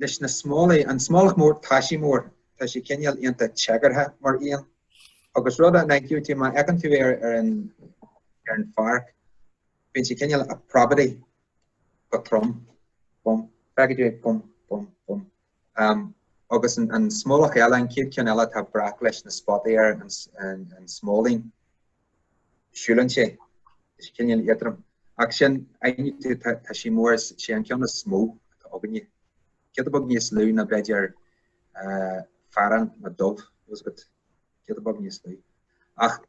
leis na smólaigh, an smólach mór, tá sí mór, tá sí cineál iontach téagartha mar éan, agus rud a n-aithneoidh tú má fheiceann tú é ar an, ar an pháirc, bíonn sé cineál a' preabadaí go trom, bum, feicfidh tú é bum, bum, bum. Um, agus an, an smólach eile, an chéad ceann eile, atá breac leis na spotaí ar an, an, an smóilín. siúlann sé cineál éadrom ach sin aithneoidh tú tá tá sí mór is é an ceann is mó atá againne. Giota beag níos lú ná b'fhéidir eh fearán nó dove just giota beag níos lú ach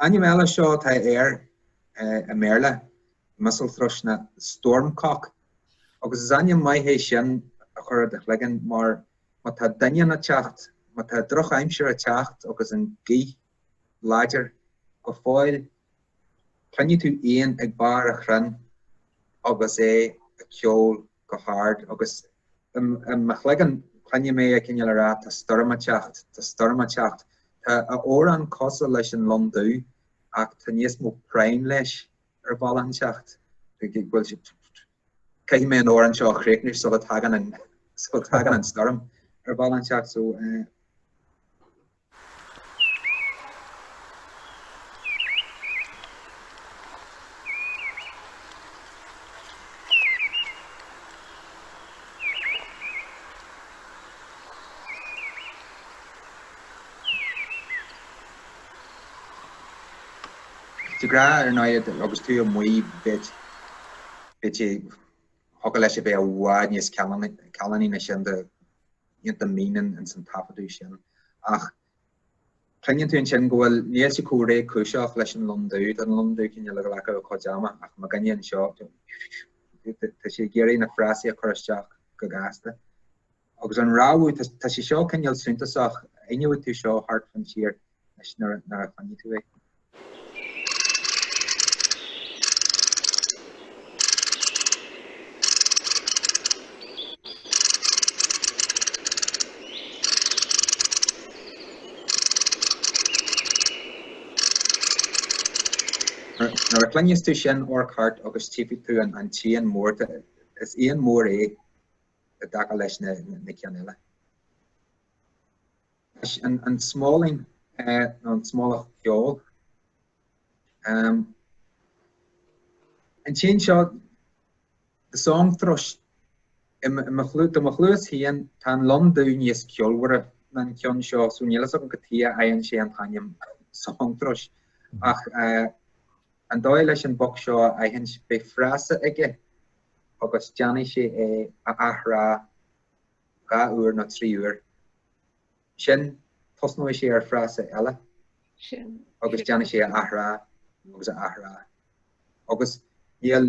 ainm eile seo atá air eh i mBéarla Mistle Thrush nó Stormcock agus is ainm maith é sin a chur i do chloigeann mar Má tá doineann a' teacht, má tá drochaimsir a' teacht agus an gaoth láidir go fóill cluinfidh tú éan ag barr a' chrainn agus é a' ceol go hard agus i mo chloigeann cluinfidh mé é cineál a' rá tá stoirm a' teacht, tá stoirm a' teacht. Tá a amhrán cosúil leis an Lon Dubh ach tá níos mó práinn leis ar bhealach inteacht, go bhfuil sé. Caithfidh mé an amhrán seo a chríochnú sula tagann an sula tagann an stoirm ar bhealach inteacht so uh, Dhá ghlao ar aghaidh agus tú amuigh b'fhéidir thiocfadh leis a bheith i bhfad níos callánaí ná sin déanta na fírinne ins an taifeadadh sin ach cluineann tú ansin go bhfuil níl sé chomh réchúiseach leis an Londú don Londú cineál le ag glacadh a chuid ama ach mo dhuine anseo tá sé ag iarraidh na frásaí a chur isteach go gasta. Agus an rabhadh, tá sé seo cineál suntasach, aithneoidh tú seo thart fan tír leis nuair a chluinfidh tú é. Nuair a chluinfidh tú sin amharc thart agus tífidh tú an an t-éan mór is éan mór é i dtaca leis na cinn eile. Leis an smóilín nó an smólach ceoil, an t-éan seo, the song thrush, do mo chluas féin, tá an londú níos ceolmhaire ná an ceann seo, so níl fhios agam cad chuige a bhfaigheann sé an t-ainm song thrush. Ach an dóigh leis an boc seo a aithint, beidh frása aige, agus déanfaidh sé é a athrá dhá uair nó trí uair. Sin, tosnóidh sé ar fhrása eile agus déanfaidh sé a athrá agus a athrá. Agus níl,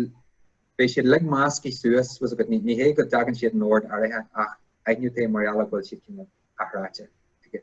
beidh siad uilig measctha suas, was a bit, ní hé go dtagann siad in ord áirithe ach aithneoidh tú é mar gheall a go bhfuil siad cineál athráite aige.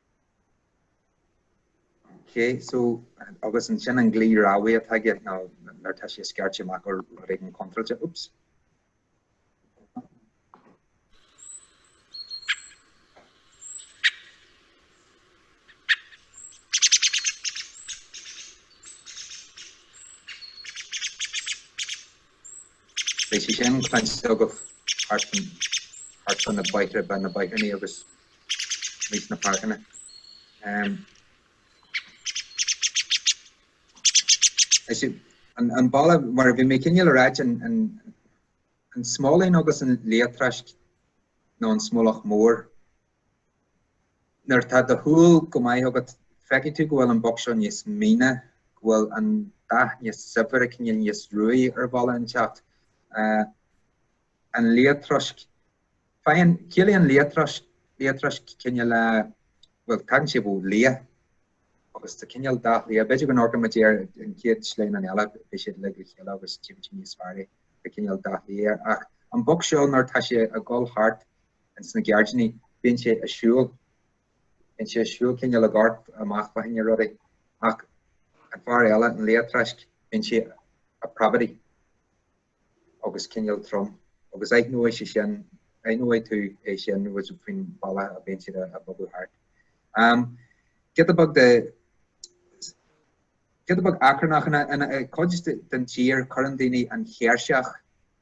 Okay, so agus ansin an glao rabhaidh atá aige ná nuair tá sé ag scairteadh amach rud éigin contráilte. Oops. Beidh sé sin cluinte agaibh thart thart fá na bóithre fá na bóithríní agus amuigh sna páirceanna. Is an an bealach mar bhí mé cineál ag ráit an an smólín agus an liatráisc nó an smólach mór Nuair atá do shúil istigh agat, feicfidh tú go bhfuil an boc seo níos míne, go bhfuil an dath níos saibhre, cineál níos ruaí ar bhealach inteacht. An liatráisc, faigheann, ciallaíonn liatráisc, liatráisc cineál, bhuel tagann sé ó liath agus tá cineál dath liath, b'fhéidir go n-amharcfaidh muid ar an chéad sleamhnán eile, beidh siad uilig le chéile agus tchífidh tú níos fearr é, tá cineál dath liath air. Ach an boc seo nuair atá sé ag dul thart, ins na geairdíní. Bíonn sé a' siúl. Bíonn sé a' siúl cineál ag amharc amach fá choinne rudaí. Ach an fear eile, an liathtráisc, bíonn sé a' preabadaigh agus cineál trom agus aithneoidh sé sin, aithneoidh tú é sin agus faoin bhealach a bhíonn siad a' bogadh thart. Am, giota beag de, giota beag achrannach, ina, ina, i gcuid den tír cuireann daoine an chéirseach,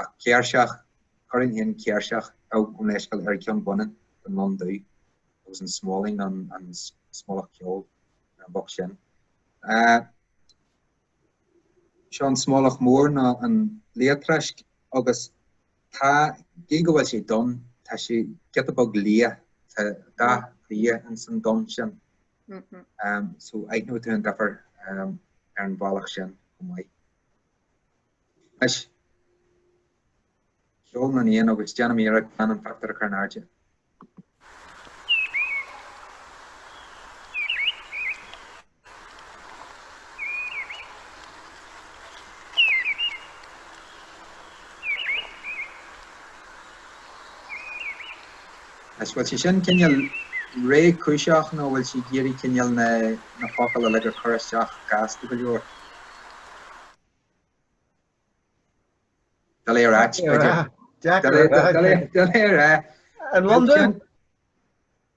ach céirseach, chuirfinn féin céirseach gabh mo leithscéal, ar an cheann baineann don lon dubh agus an smóilín, an smólach ceoil, ar an bhoc sin. Seo an smólach mór nó an liathtráisc agus tá, gidh go bhfuil sé donn, tá sé giota beag liath, tá dath liath ins an donn sin. So aithneoidh tú an difear ar an bhealach sin chomh maith. Anois, ceol na n-éan agus déanfaidh mé iarracht gan an pictiúr a chur in airde. Anois, bhfuil sé sin cineál réchúiseach nó bhfuil sé ag iarraidh cineál na focail uilig a chur isteach gasta go leor? Dá léir ait, b'fhéidir. Dá léir a. An Londain?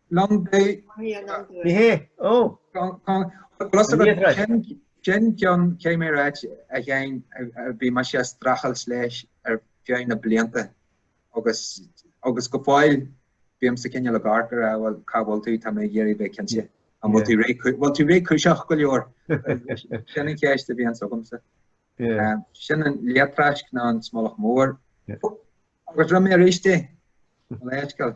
Londain. Ní hé, ó. Sin ceann cé mé ráite a bhí mar sé strachailt leis ar feadh na blianta. Agus agus go fóill bímse cineál ag amharc air, ah bhuel cá bhfuil tú, tá mé ag iarraidh a bheith cinnte an bhfuil tú réidh, bhfuil tú réchúiseach go leor? Sin an cheist a bhíonns agamsa. Sin an liathtráisc nó an smolach mór. Agus rinne mé aríst é, gabh mo leithscéal.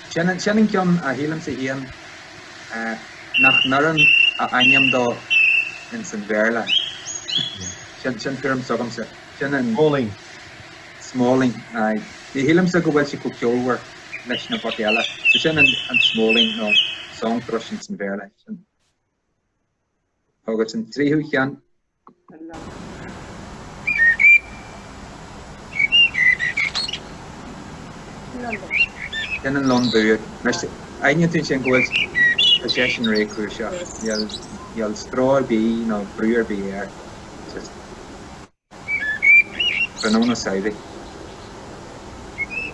Sin an ceann a shílimse féin nach n-oireann a ainm dó ins an Bhéarla. Sin tuairim s'agamsa. Sin an. Smóilín. Smóilín, aye. Ní shílimse go bhfuil sé chomh ceolmhar leis na boic eile. So sin an smóilín nó song thrush ins an Bhéarla. Sin. agus an tríú cheann. Sin an lon dubh. Aithneoidh tú ansin go bhfuil seisean réchúiseach, níl stró ar bith nó brú ar bith air sa tráthnóna samhraidh.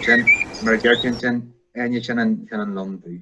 Sin, mar a deir tú ansin, Eithne, sin an lon dubh.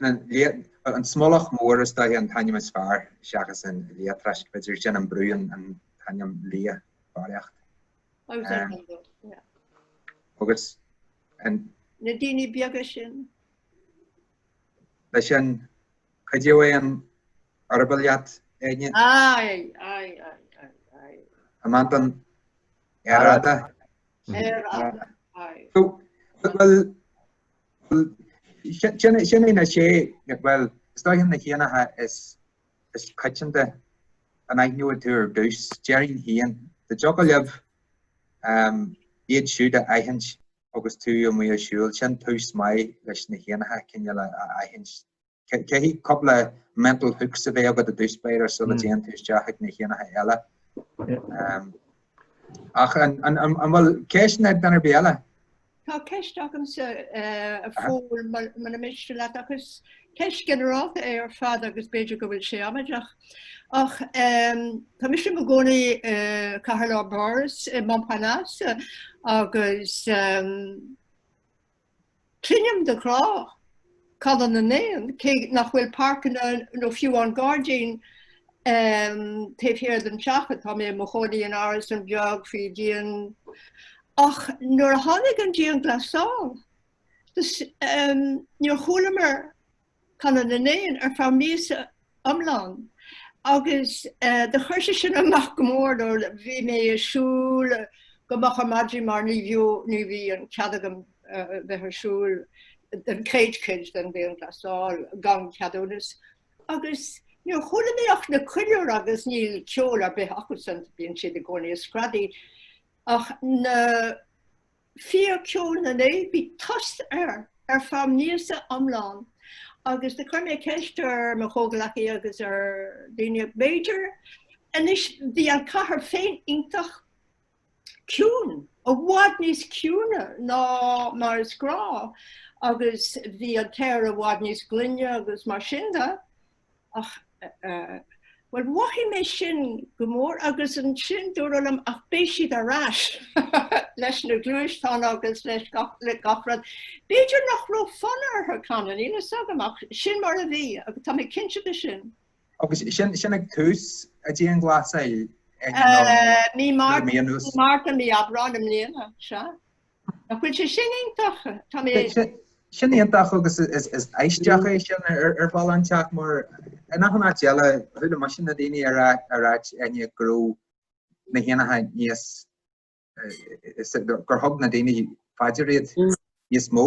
An smólach mór is dóiche an t-ainm is fearr seachas an liatráisc, b'fhéidir, sin an brúnn an t-ainm liath barraíocht. Agus an. Na daoine beaga sin. Leis sin, cuideoidh é an eireaball leat, Áine? Aye, aye, aye, aye, aye. An meantán earrfhada. Sin é na sé bhuel is dóiche na héanacha is is coitianta a aithneoidh tú ar dtús, déarfainn féin, dá dtiocfadh libh iad siúd a aithint agus tú amuigh ag siúl, sin tús maith leis na héanacha cineál a aithint Caithfidh cúpla mental hooks a bheith agat ar dtús b'fhéidir sula hmm. dtéann tú isteach ag na héanacha eile. Um, ach an bhfuil ceisteanna ag duine ar bith eile? Tá ceist agamsa eh, a Phóil muna miste leat agus ceist ghinearálta é ar fad agus b'fhéidir go bhfuil sé amaideach. Ach tá mise i mo chónaí eh, i gceartlár Pháras i eh, Montparnasse agus Cluinim de ghnáth canadh na n-éan, cé nach bhfuil páirceanna nó fiú an gairdín taobh thiar den teach atá mé i mo chónaí in árasán beag faoin díon ach nuair a tháinig an dianghlasáil níor chualamar canadh na n-éan ar feadh míosa iomlán agus do chuir sé sin amach go mór nó bhí mé ag siúl go moch ar maidin mar ní bhí ní bhí an cead agam bheith ag siúl don chéad cuid den dianghlasáil gan ceadúnas agus níor chuala mé ach na colúir agus níl ceol ar bith acusan bíonn siad i gcónaí ag screadaí ach na fíorcheol na n-éan, bhí tost air ar feadh míosa iomlán agus do chuir mé ceist ar mo chomhghleacaí agus ar daoine b'fhéidir. Anois bhí an chathair féin iontach ciún, i bhfad níos ciúine ná mar is gnáth agus bhí an t-aer i bhfad níos glaine agus mar sin de. Ach, bhuel, mhothaigh mé sin go mór agus ansin dúradh liom, ach beidh siad ar ais leis na gluaisteáin agus le gach rud. B'fhéidir nach raibh fonn orthu canadh, níl fhios agam, ach sin mar a bhí agus tá mé cinnte de sin. Agus sin ag tús an dianghlasáil, mí Márta, mí Aibreáin i mbliana, sea. Nach bhfuil sé sin iontach? Tá mé ag. Sin iontach agus is aisteach é sin ar bhealach inteacht mar in achan áit eile chuala mise na daoine ag ráit you know go raibh na héanacha níos gur thug na daoine fá dear iad níos mó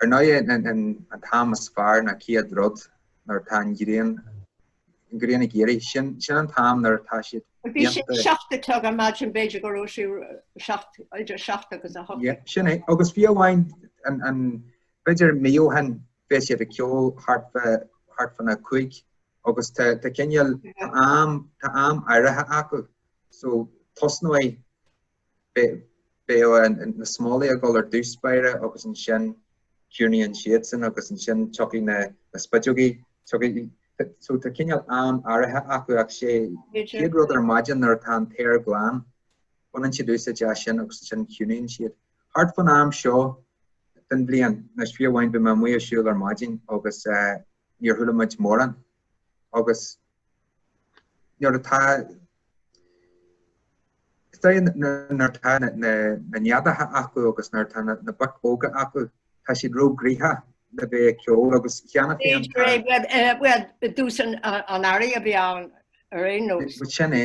Ar ndóigh, an t-am is fearr ná céad rud nuair atá an ghrian ghrian ag éirí. Sin sin an t-am nuair atá siad Bhí sé déanta. seacht a chlog ar maidin b'fhéidir go raibh sí seacht idir seacht agus a hocht. Yeah, sin é. Agus fiú amháin an an b'fhéidir mí ó shin bheadh siad ag ceol thart fá thart fán a cúig agus tá tá cineál tá am tá am áirithe acu so tosnóidh beidh na smólaigh ag dul ar dtús báire agus ansin ciúnaíonn siadsan agus ansin tiocfaidh na spideogaí, tiocfaidh, so tá cineál am áirithe acu ach sé chéad rud ar maidin nuair atá an t-aer glan, baineann siad úsáid as sin agus ansin ciúnaíonn siad. Thart fán am seo den bhliain, anois fiú amháin bhí mé amuigh ag siúl ar maidin agus níor chuala muid mórán agus nuair atá nuair atá na neadacha acu agus nuair atá na boic óga acu tá siad róghnoitheach le bheith ag ceol agus cheana féin tús an earraigh a bhí ann ar aon nós sin é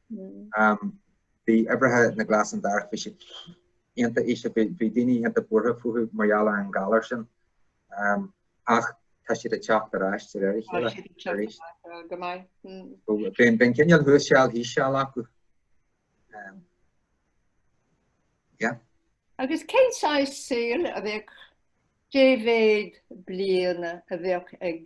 Bhí uimhreacha na nglasán darach, bhí siad iontach íseal, bhí daoine iontach buartha fúthu mar gheall ar an galar sin ach tá siad ag teacht ar ais de réir a chéile arís. Bíonn cineál thuas seal thíos seal acu. Agus cén saol a bheadh Dé mhéad bliain a bheadh ag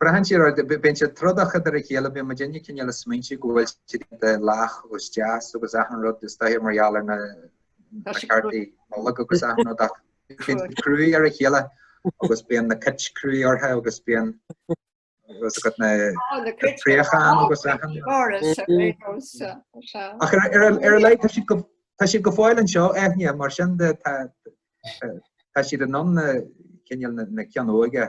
Braitheann sé ar, bíonn siad trodach idir a chéile, bíonn muidinne cineál ag smaointiú go bhfuil siad lách agus deas agus achan rud is dóiche mar gheall ar na cártaí Nollag agus achan rud ach bíonn cruaidh ar a chéile agus bíonn na cait cruaidh orthu agus bíonn agus go na préacháin agus achan Ach ar a laghad tá siad go fóill anseo, Eithne, mar sin de tá siad in ann na cineál na cinn óga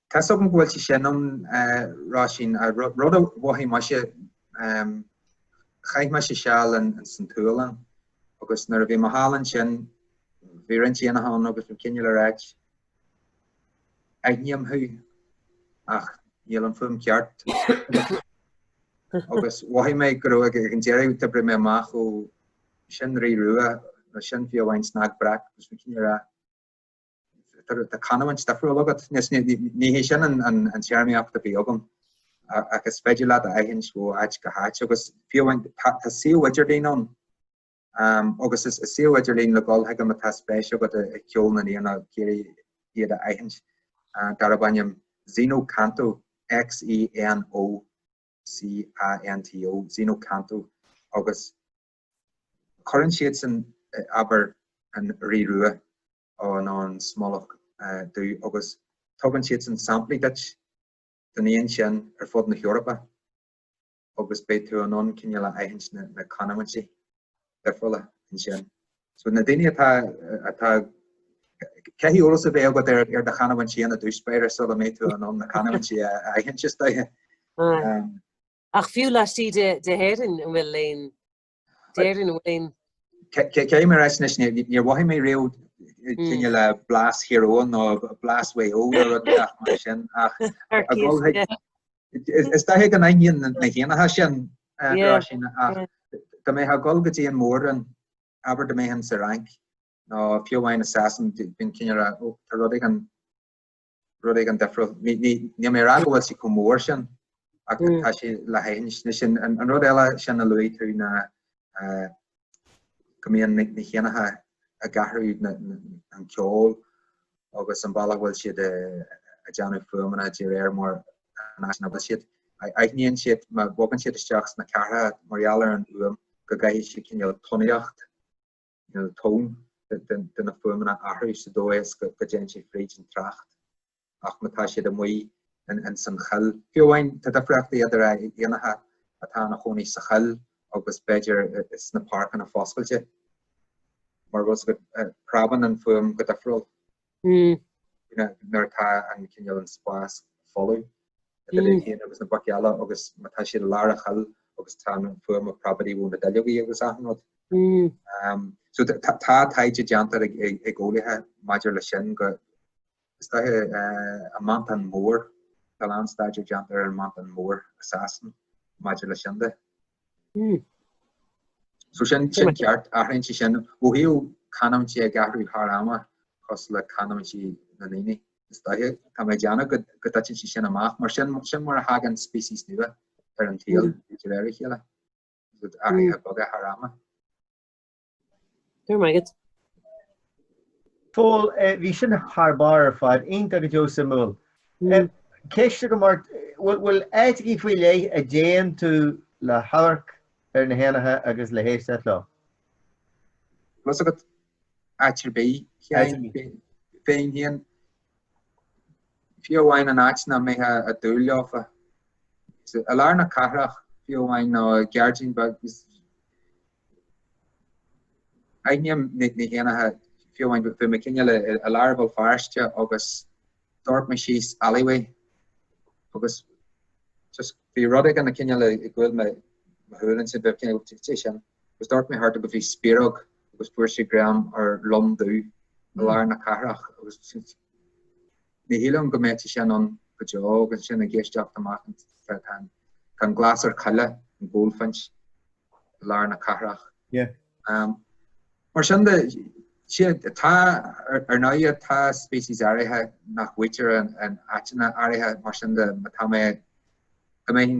Tá a fhios agam go bhfuil sé sin ann, ag rá sin, rud a mhothaigh mise, chaith mise seal san tSualainn agus nuair a bhí mé thall ansin, bhí roinnt éanacha ann agus bhí cineál all right, aithním thú ach níl an fuaim ceart, agus mhothaigh mé go raibh, ag an deireadh d'oibrigh mé amach ó sin rí rua, nó sin fiú amháin snag breac agus bhí cineál ar a'. Tá canúint difriúil agat. Ní hé sin an téarmaíocht a bhí agam ach is féidir leat a aithint ó áit go háit agus fiú amháin tá suíomh idirlín ann agus is suíomh idirlín le dhul chuige má tá spéis agat i gceol na n-éanacha ag iarraidh iad a aithint darb ainm Xeno Canto, X-E-N-O-C-A-N-T-O, Xeno Canto agus Cuireann siadsan, abair, an Rí Rua nó an Smólach Dubh agus tugann siadsan samplaí duit den éan sin ar fud na hEorpa agus beidh tú in ann cineál aithint na canúintí difriúla ansin. So na daoine atá, atá, caithfidh eolas a bheith agat ar, ar do chanúintí, an do-spéire sula mbeidh tú in ann na canúintí a aithint is dóigh. Ach fiú laistigh de hÉirinn an bhfuil aon d'Éirinn an bhfuil aon. Cé mar, bhuel anois níor mhothaigh mé riamh cineál blas Thír Eoghain nó blas Mhaigh Eo nó rud inteacht mar sin ach is dóiche gur ionann na héanacha seo sin ach dá mbeadh a dhul go dtí an mhór-roinn abair dá mbeifeá sa Fhrainc nó fiú amháin i Sasain bíonn cineál, ó tá rud éigin rud éigin difriúil. Níl mé ag rá go bhfuil sí chomh mór sin ach tá sí le haithint. An rud eile sin a luaigh tú ná go mbíonn na héanacha ag athrú an ceol agus an bealach a bhfuil siad ag déanamh fuaimeanna de réir mar an áit ina bhfuil siad. Aithníonn siad má bhogann siad isteach sna ceartha mar gheall ar an fhuaim go gcaithfidh siad cineál tónaíocht nó tón de na fuaimeanna a athrú sa dóigh is go dtéann sé fríd an trácht ach má tá siad amuigh ins an choill. Fiú amháin, tá difríochtaí idir éanacha atá ina gcónaí sa choill agus b'fhéidir sna páirceanna foscailte mar go bpreabann an fuaim go difriúil. nuair atá an cineál an spás folamh idir éan agus na baic eile agus má tá siad i lár an choill agus tá an fuaim ag preabadaí ó na duilleogaí agus achan rud. So tá taighde déanta ag eolaithe maidir le sin go is dóiche an meantán mór, tá an-staidéar déanta ar an mheantán mór i Sasain maidir le sin de. So sin ceart, athraíonn sé sin. Ó thaobh canúintí ag athrú thar ama cosúil le canúintí na ndaoine, is dóiche, tá mé ag déanamh go dtiteann sé sin amach, mar sin mar a thagann speiceas nua ar an tsaol de réir a chéile, athruithe beaga thar ama. Go raibh maith agat, a Phóil. Eh, bhí sin thar barr ar fad, iontach go deo suimiúil. Eh, ceist agam ort, bhfuil, bhfuil áiteachaí faoi leith a dtéann tú le hamharc ar na héanacha agus le héisteacht leo? Bhuel, tá a fhios agat áit ar bith, féin féin. Fiú amháin an áit nach mbeifeá ag dúil leofa. I lár na cathrach, fiú amháin, nó i ngairdín beag, Aithním na héanaithe fiú amháin bhí mé cineál i lár Bhéal Feirste agus d'amharc mé síos alleyway agus just bhí rud éigin cineál i gcúl mo shúile ansin bhí cineál caidé sin agus d'amharc mé thart agus bhí spioróg agus fuair sé greim ar lon dubh i lár na cathrach agus Ní shílfinn go mbeadh sé sin ann go deo agus ansin ag éisteacht amach tá an glasair choille, an goldfinch i lár na cathrach. Mar sin de, tá ar ndóigh tá speicis áirithe nach bhfuightear in áiteanna áirithe mar sin de má tá mé go mbeinn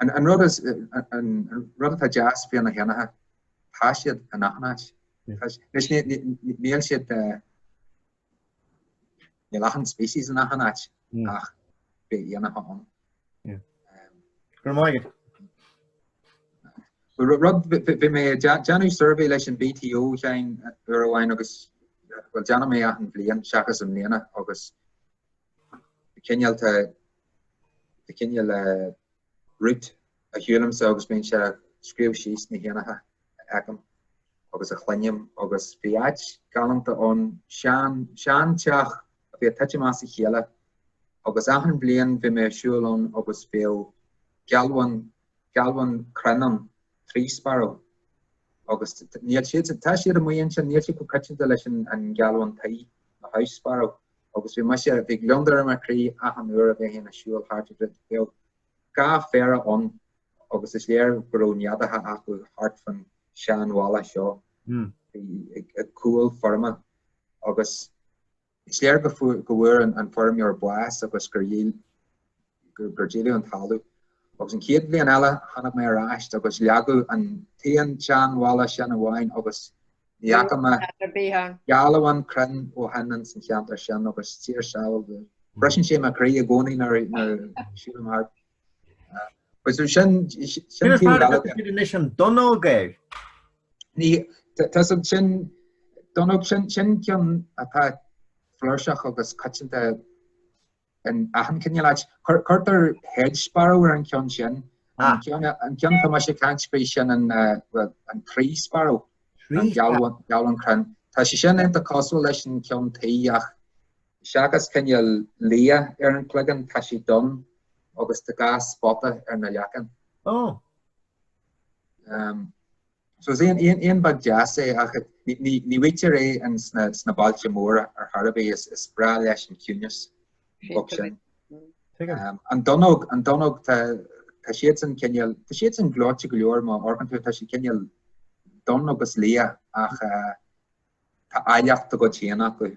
An rud atá deas faoi na héanaithe, tá siad in achan áit. Níl achan species in achan áit ach beidh éanaithe ann. Rud, bhí mé ag déanamh suirbhé leis an BTO, a Sheáin, uair amháin agus, bhuel, déanaim é achan bhliain seachas i mbliana agus, cineál cineál route a shiúlaimse agus bíonn sé ag scríobh síos na héanaithe a fheicim agus a chluinim agus bhí áit galánta ann, sean, seanteach a bhí ag titim as a chéile agus achan bhliain bhí mé ag siúl ann agus bheadh gealbhan, gealbhan crainn ann, tree sparrow, agus níl siad, tá siad amuigh ansin, níl siad chomh coitianta leis an, an gealbhan tí, a house sparrow. agus bhí mise, bhí gliondar ar mo chroí achan uair a bheinn ag siúl thart bheadh dhá phéire ann agus is léir go raibh neadaithe acu thart fan seanbhalla seo hmm. ag cúl feirme agus is léir go go bhfuair an feirmeoir bás agus gur dhíl gur díoladh an talamh. Agus an chéad bhliain eile tháinig mé ar ais agus leagadh an t-aon seanbhalla sin amháin agus ní fhaca mé gealbhan crainn ó shin ins an cheantar sin agus tá a fhios agat. Briseann sé mo chroí i gcónaí nuair a shiúlaim thart. Sin an donnóg, an ea? Ní hea, sin donnóg, sin ceann atá flúirseach agus coitianta In achan cineál áit, cuirtear hedge sparrow ar an ceann sin. An ceann, an ceann atá mise ag caint faoi sin an, well, an tree sparrow, an gealbhan, gealbhan crainn. Tá sé sin iontach cosúil leis an ceann tí ach seachas cineál liath ar an gcloigeann tá sé donn agus tá dhá spota ar na leicne. Oh. So is éan beag deas é ach ní fhaightear é sna bailte móra ar chor ar bith, is breá leis an ciúnas. Ach sin an Donnóg, an Donnóg tá siadsan cineál, tá siadsan gleoite go leor má amharcann tú, tá siad cineál donn agus liath ach Tá áilleacht dá gcuid féin acu.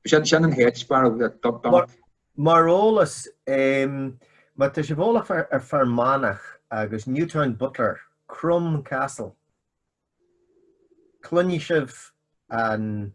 Sin an hedge sparrow, dunnock. Mar eolas, má tá sibh eolach ar Fear Manach agus Newtown Butler, Crom Castle, cluinfidh sibh an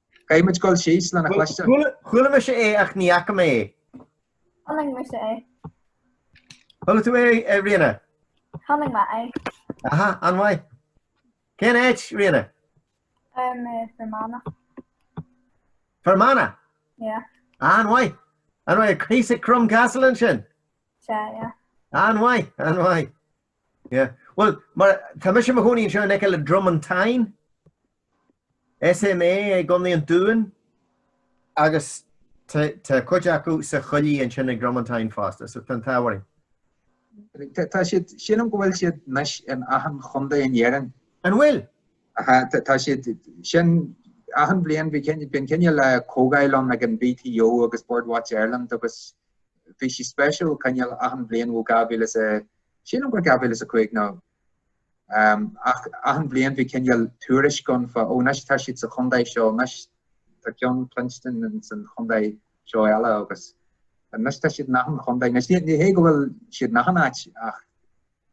Beidh muid ag dul síos lena chluinstin. Chuala mise é ach ní fhaca mé é. Chonaic mise é. Chuala tú é, Ríona? Chonaic mé é. Aha, an-mhaith. Cén áit, Ríona? Um, uh, Fermanagh. Fermanagh? Yeah. An-mhaith. An-mhaith, thíos ag Crom Castle ansin? Sea, yeah. An-mhaith, an-mhaith. Yeah. Well, mar tá mise i mo chónaí anseo in aice le Dromantine. SMA i gContae an Dúin agus tá cuid acu sa choillidh ansin ag Dromantine fosta, so tá an t-ádh orainn. Tá siad, sílim go bhfuil siad anois in achan chontae in Éirinn. An bhfuil? Aha, tá siad, sin, achan bhliain bhí cineál, bíonn cineál comhdháil ann ag an BTO agus Bird Watch Ireland agus bhí sí speisiúil, cineál achan bhliain, ó 2000 is, sílim gur 2005 nó. Ach achan bhliain bhí cineál tuairisc ann fá ó anois tá siad sa chontae seo anois, tá ceann cluinstin in san chontae seo eile agus anois tá siad in achan chontae. Anois ní ní hé go bhfuil siad in achan áit ach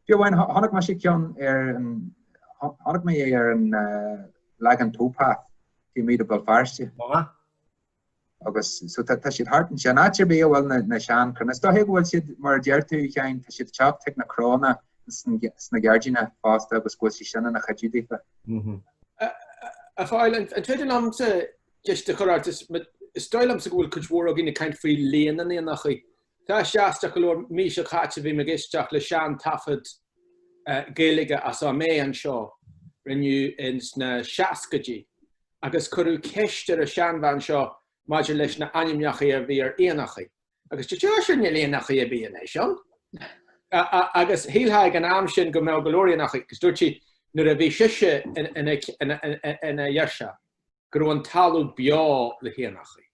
fiú amháin cho- chonaic mise ceann ar an cho- chonaic mé é ar an eh, Lagan Towpath, taobh amuigh de Bhéal Feirste. Má. agus so tá siad thart ansin. Áit ar bith a bhfuil na seanchranna, is dóiche go bhfuil siad, mar a deir tú, Sheáin, tá siad teacht chuig na cranna sna gairdíonna fosta agus go bhfuil siad sin ina chuidiú daofa. A Phóil, an féidir liomsa ceist a chur ort? Is dóigh liomsa go bhfuil cuid mhór againn ag caint faoi líon na n-éanachaí. Tá sé aisteach go leor, mí seo caite bhí mé ag éisteacht le seantaifead Gaeilge as Ó Méith anseo, rinneadh ins na seascaidí, agus cuireadh ceist ar an seanbhean seo maidir leis na h-ainmneachaí a bhí ar éanachaí, agus dúirt sise níl éanachaí ar bith anois ann, agus shílfeá ag an am sin go mbeadh go leor éanachaí, agus dúirt sí nuair a bhí sise ina ghirseach go raibh an talamh beo le héanachaí.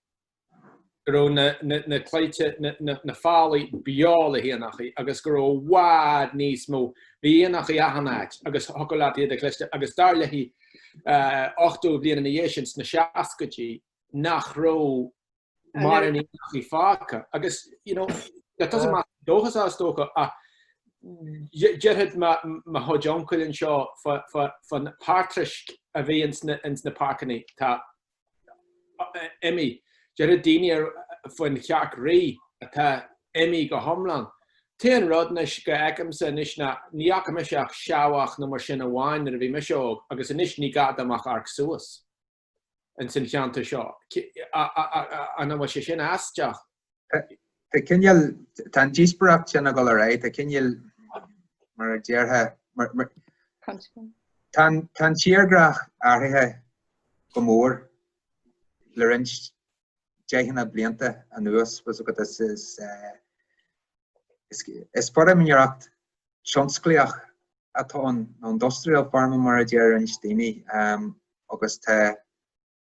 go raibh na, na, na claíthe, na, na, na fálaí beo le héanachaí agus go raibh i bhfad níos mó, bhí éanachaí achan áit agus thiocfadh leat iad a chloisteáil agus dar léithi, eh, ochtó bliain ina dhiaidh sin, sna seascaidí, nach raibh mórán éanachaí fágtha agus, you know, that doesn't matter to dóchas is dócha ach dé- déarfadh mo, mo chuid uncail anseo fá, fá, fán patraisc a bhí ins na, ins na páirceanna, tá, imithe. Deireadh daoine faoin chearc fhraoigh atá imithe go hiomlán. An t-aon rud anois go bhfeicimse anois ná ní fhaca mise ach seabhac nó mar sin amháin nuair a bhí mise óg agus anois ní gá dom ach amharc suas insan cheantar seo. An bhfuil sé sin aisteach? Tá cineál, tá an díospóireacht sin ag dul ar aghaidh, tá cineál, mar a déarfá, tá an tírdhreach athraithe go mór le roinnt deicheanna blianta anuas, tá a fhios agat, is feirmeoireacht thionsclaíoch atá ann, nó industrial farming mar a deir roinnt daoine, agus tá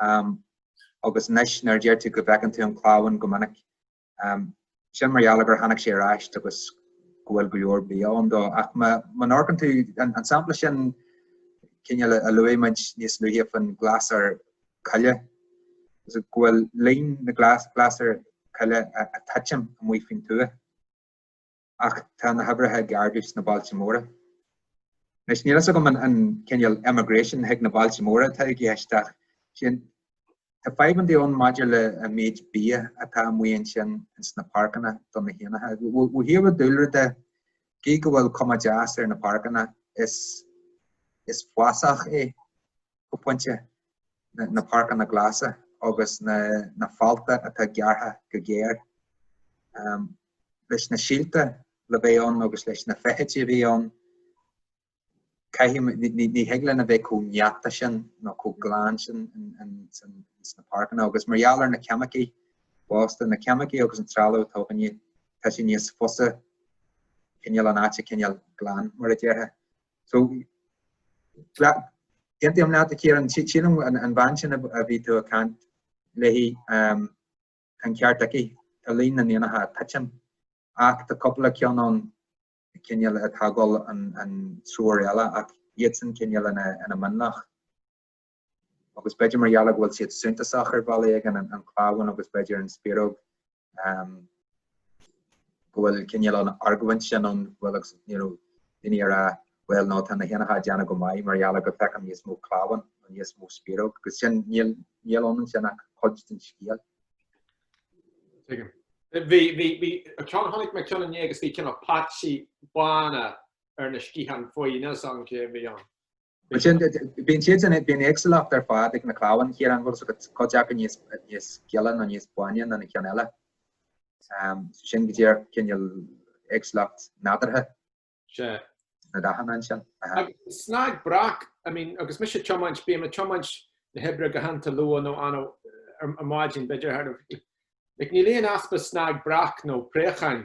Am, Agus anois, nuair a deir tú go bhfeiceann tú an clamhán go minic, am, sin mar gheall gur tháinig sé ar ais agus go bhfuil go leor bia ann dó. Ach má n-amharcann tú, an sampla sin cineál a luaigh muid níos luaithe faoin glasair coille, is go bhfuil líon na glasair coille ag titim amuigh faoin tuath. ach tá na huimhreacha ag ardú sna bailte móra. Anois, níl fhios agam an cineál emigration chuig na bailte móra atá i gceist ach sin tá fadhbannaí ann maidir le an méid bia atá amuigh ansin sna páirceanna do na héanacha. Ó thaobh dúlra de cé go bhfuil cuma deas ar na páirceanna is is fásach é go pointe, na páirceanna glasa agus na fálta atá gearrtha go géar. Leis na síolta le bheith ann agus leis na feithidí a bhí ann, ní thig linn a bheith chomh neata sin nó chomh glan sin sna páirceanna agus mar gheall ar na ceimicí fosta, na ceimicí agus an trealamh atá againne, tá sé níos fusa cineál an áit a choinneáil glan mar a déarfá. So, aontaím leat, a Chiaráin, sílim an bhean sin a bhí tú ag caint léi, tá'n ceart aici, tá líon na n-éanacha ag titim, ach tá cúpla ceann ann cineál atá ag dul an treo eile, ach iadsan cineál ina mionlach. agus b'fhéidir mar gheall go bhfuil siad suntasach ar bhealach éigin, an an clamhán agus b'fhéidir an spioróg, go bhfuil cinéal an argóint sin ann, bhuel agus, you know, daoine ag rá bhuel ná tá na héanacha ag déanamh go maith mar gheall go bhfeicim níos mó clamháin nó níos mó spioróg, agus sin, níl, níl ann ansin ach cuid den scéal. Tuigim. Bhí, bhí, bhí, ceann, chonaic mé ceann inné agus bhí cineál paitsí bána ar na sciatháin faoi, níl 's agam cé a bhí ann. Bíonn siad bíonn siad sin bíonn éagsúlacht ar fad ag na clamháin a Chiaráin go bhfuil fhios agat cuid acu níos níos gile nó níos báine ná na ceann eile ehm so sin go díreach cineál éagsúlacht nádúrtha Sea. na dathanna ansin. Aha. Snag breac I mean agus mise ag tiomáint bíonn mé ag tiomáint na hoibre go hiontach luath nó ana ar maidin b'fhéidir thar like níl aon easpa snag breac nó préacháin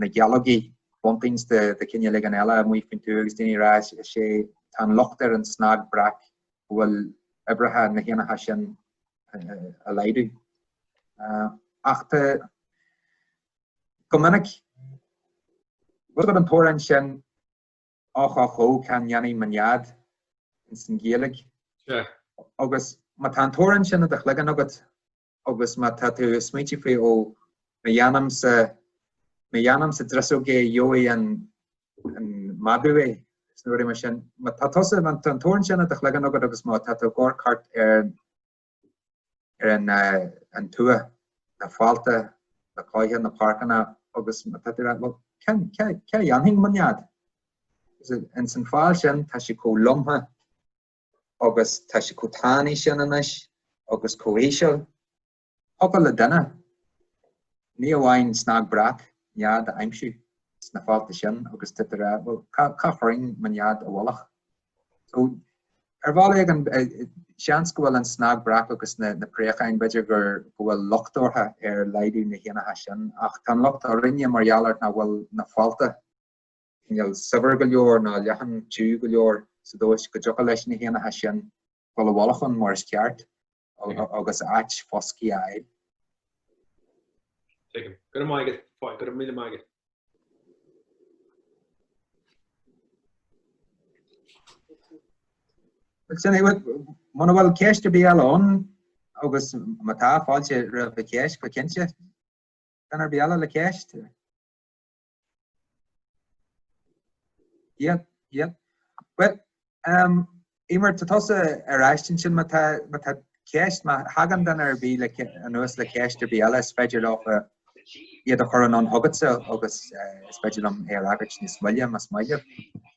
na gealógaí buntings de chineál éigin eile amuigh faoin tuath agus daoine ag rá is is é tá an locht ar an snag breac go bhfuil uimhreacha na héanacha sin ag laghdú. Ach tá go minic bhfuil fhios agat an t-amhrán sin och och oh cá ndéanfaidh mo nead ins an Ghaeilge agus má tá an t-amhrán sin i do chloigeann agat agus má tá tú ag smaointiú faoi ó má dhéanaim sa má dhéanaim sa driseog é gheobhaidh an an madadh é is na rudaí mar sin. Má tá tusa an an t-amhrán sin i do chloigeann agat agus má tá tú ag amharc thart ar ar an an tuath, na fálta, na claíocha, na páirceanna agus má tá tú ag rá bhuel cén cá cá dhéanfainn mo nead? Is in san fál sin tá sé chomh lomtha agus tá sé chomh tanaí sin anois agus chomh híseal. Thiocfadh le duine, ní amháin snag breac nead a aimsiú sna fálta sin agus tú ag rá, bhuel, cá chuirfinn mo nead i bhfolach? So, ar bhealach éigin, seans go bhfuil an snag breac agus na préacháin, b'fhéidir go bhfuil locht orthu ar laghdú na héanacha sin, ach tá an locht orainne mar gheall ar nach bhfuil na fálta, cineál saibhir go leor nó leathan tiugh go leor sa dóigh is go dtiocfadh leis na héanacha sin dul i bhfolach ann mar is ceart agus áit foscaidh a fháil. Tuigim. Go raibh maith agat. Go raibh míle maith agat. Muna bhfuil ceist ar bith eile ann agus má tá fáilte roimh an cheist go cinnte. Duine ar bith eile le ceist? Yeah, yeah. Well, um, Emer, tá tusa ar ais ansin má tá ceist, má thagann duine ar bith eile anuas le ceist ar bith eile, is féidir leo eh, iad a chur anonn chugatsa agus eh, is féidir liom é a fhreagairt níos moille, más maith leat.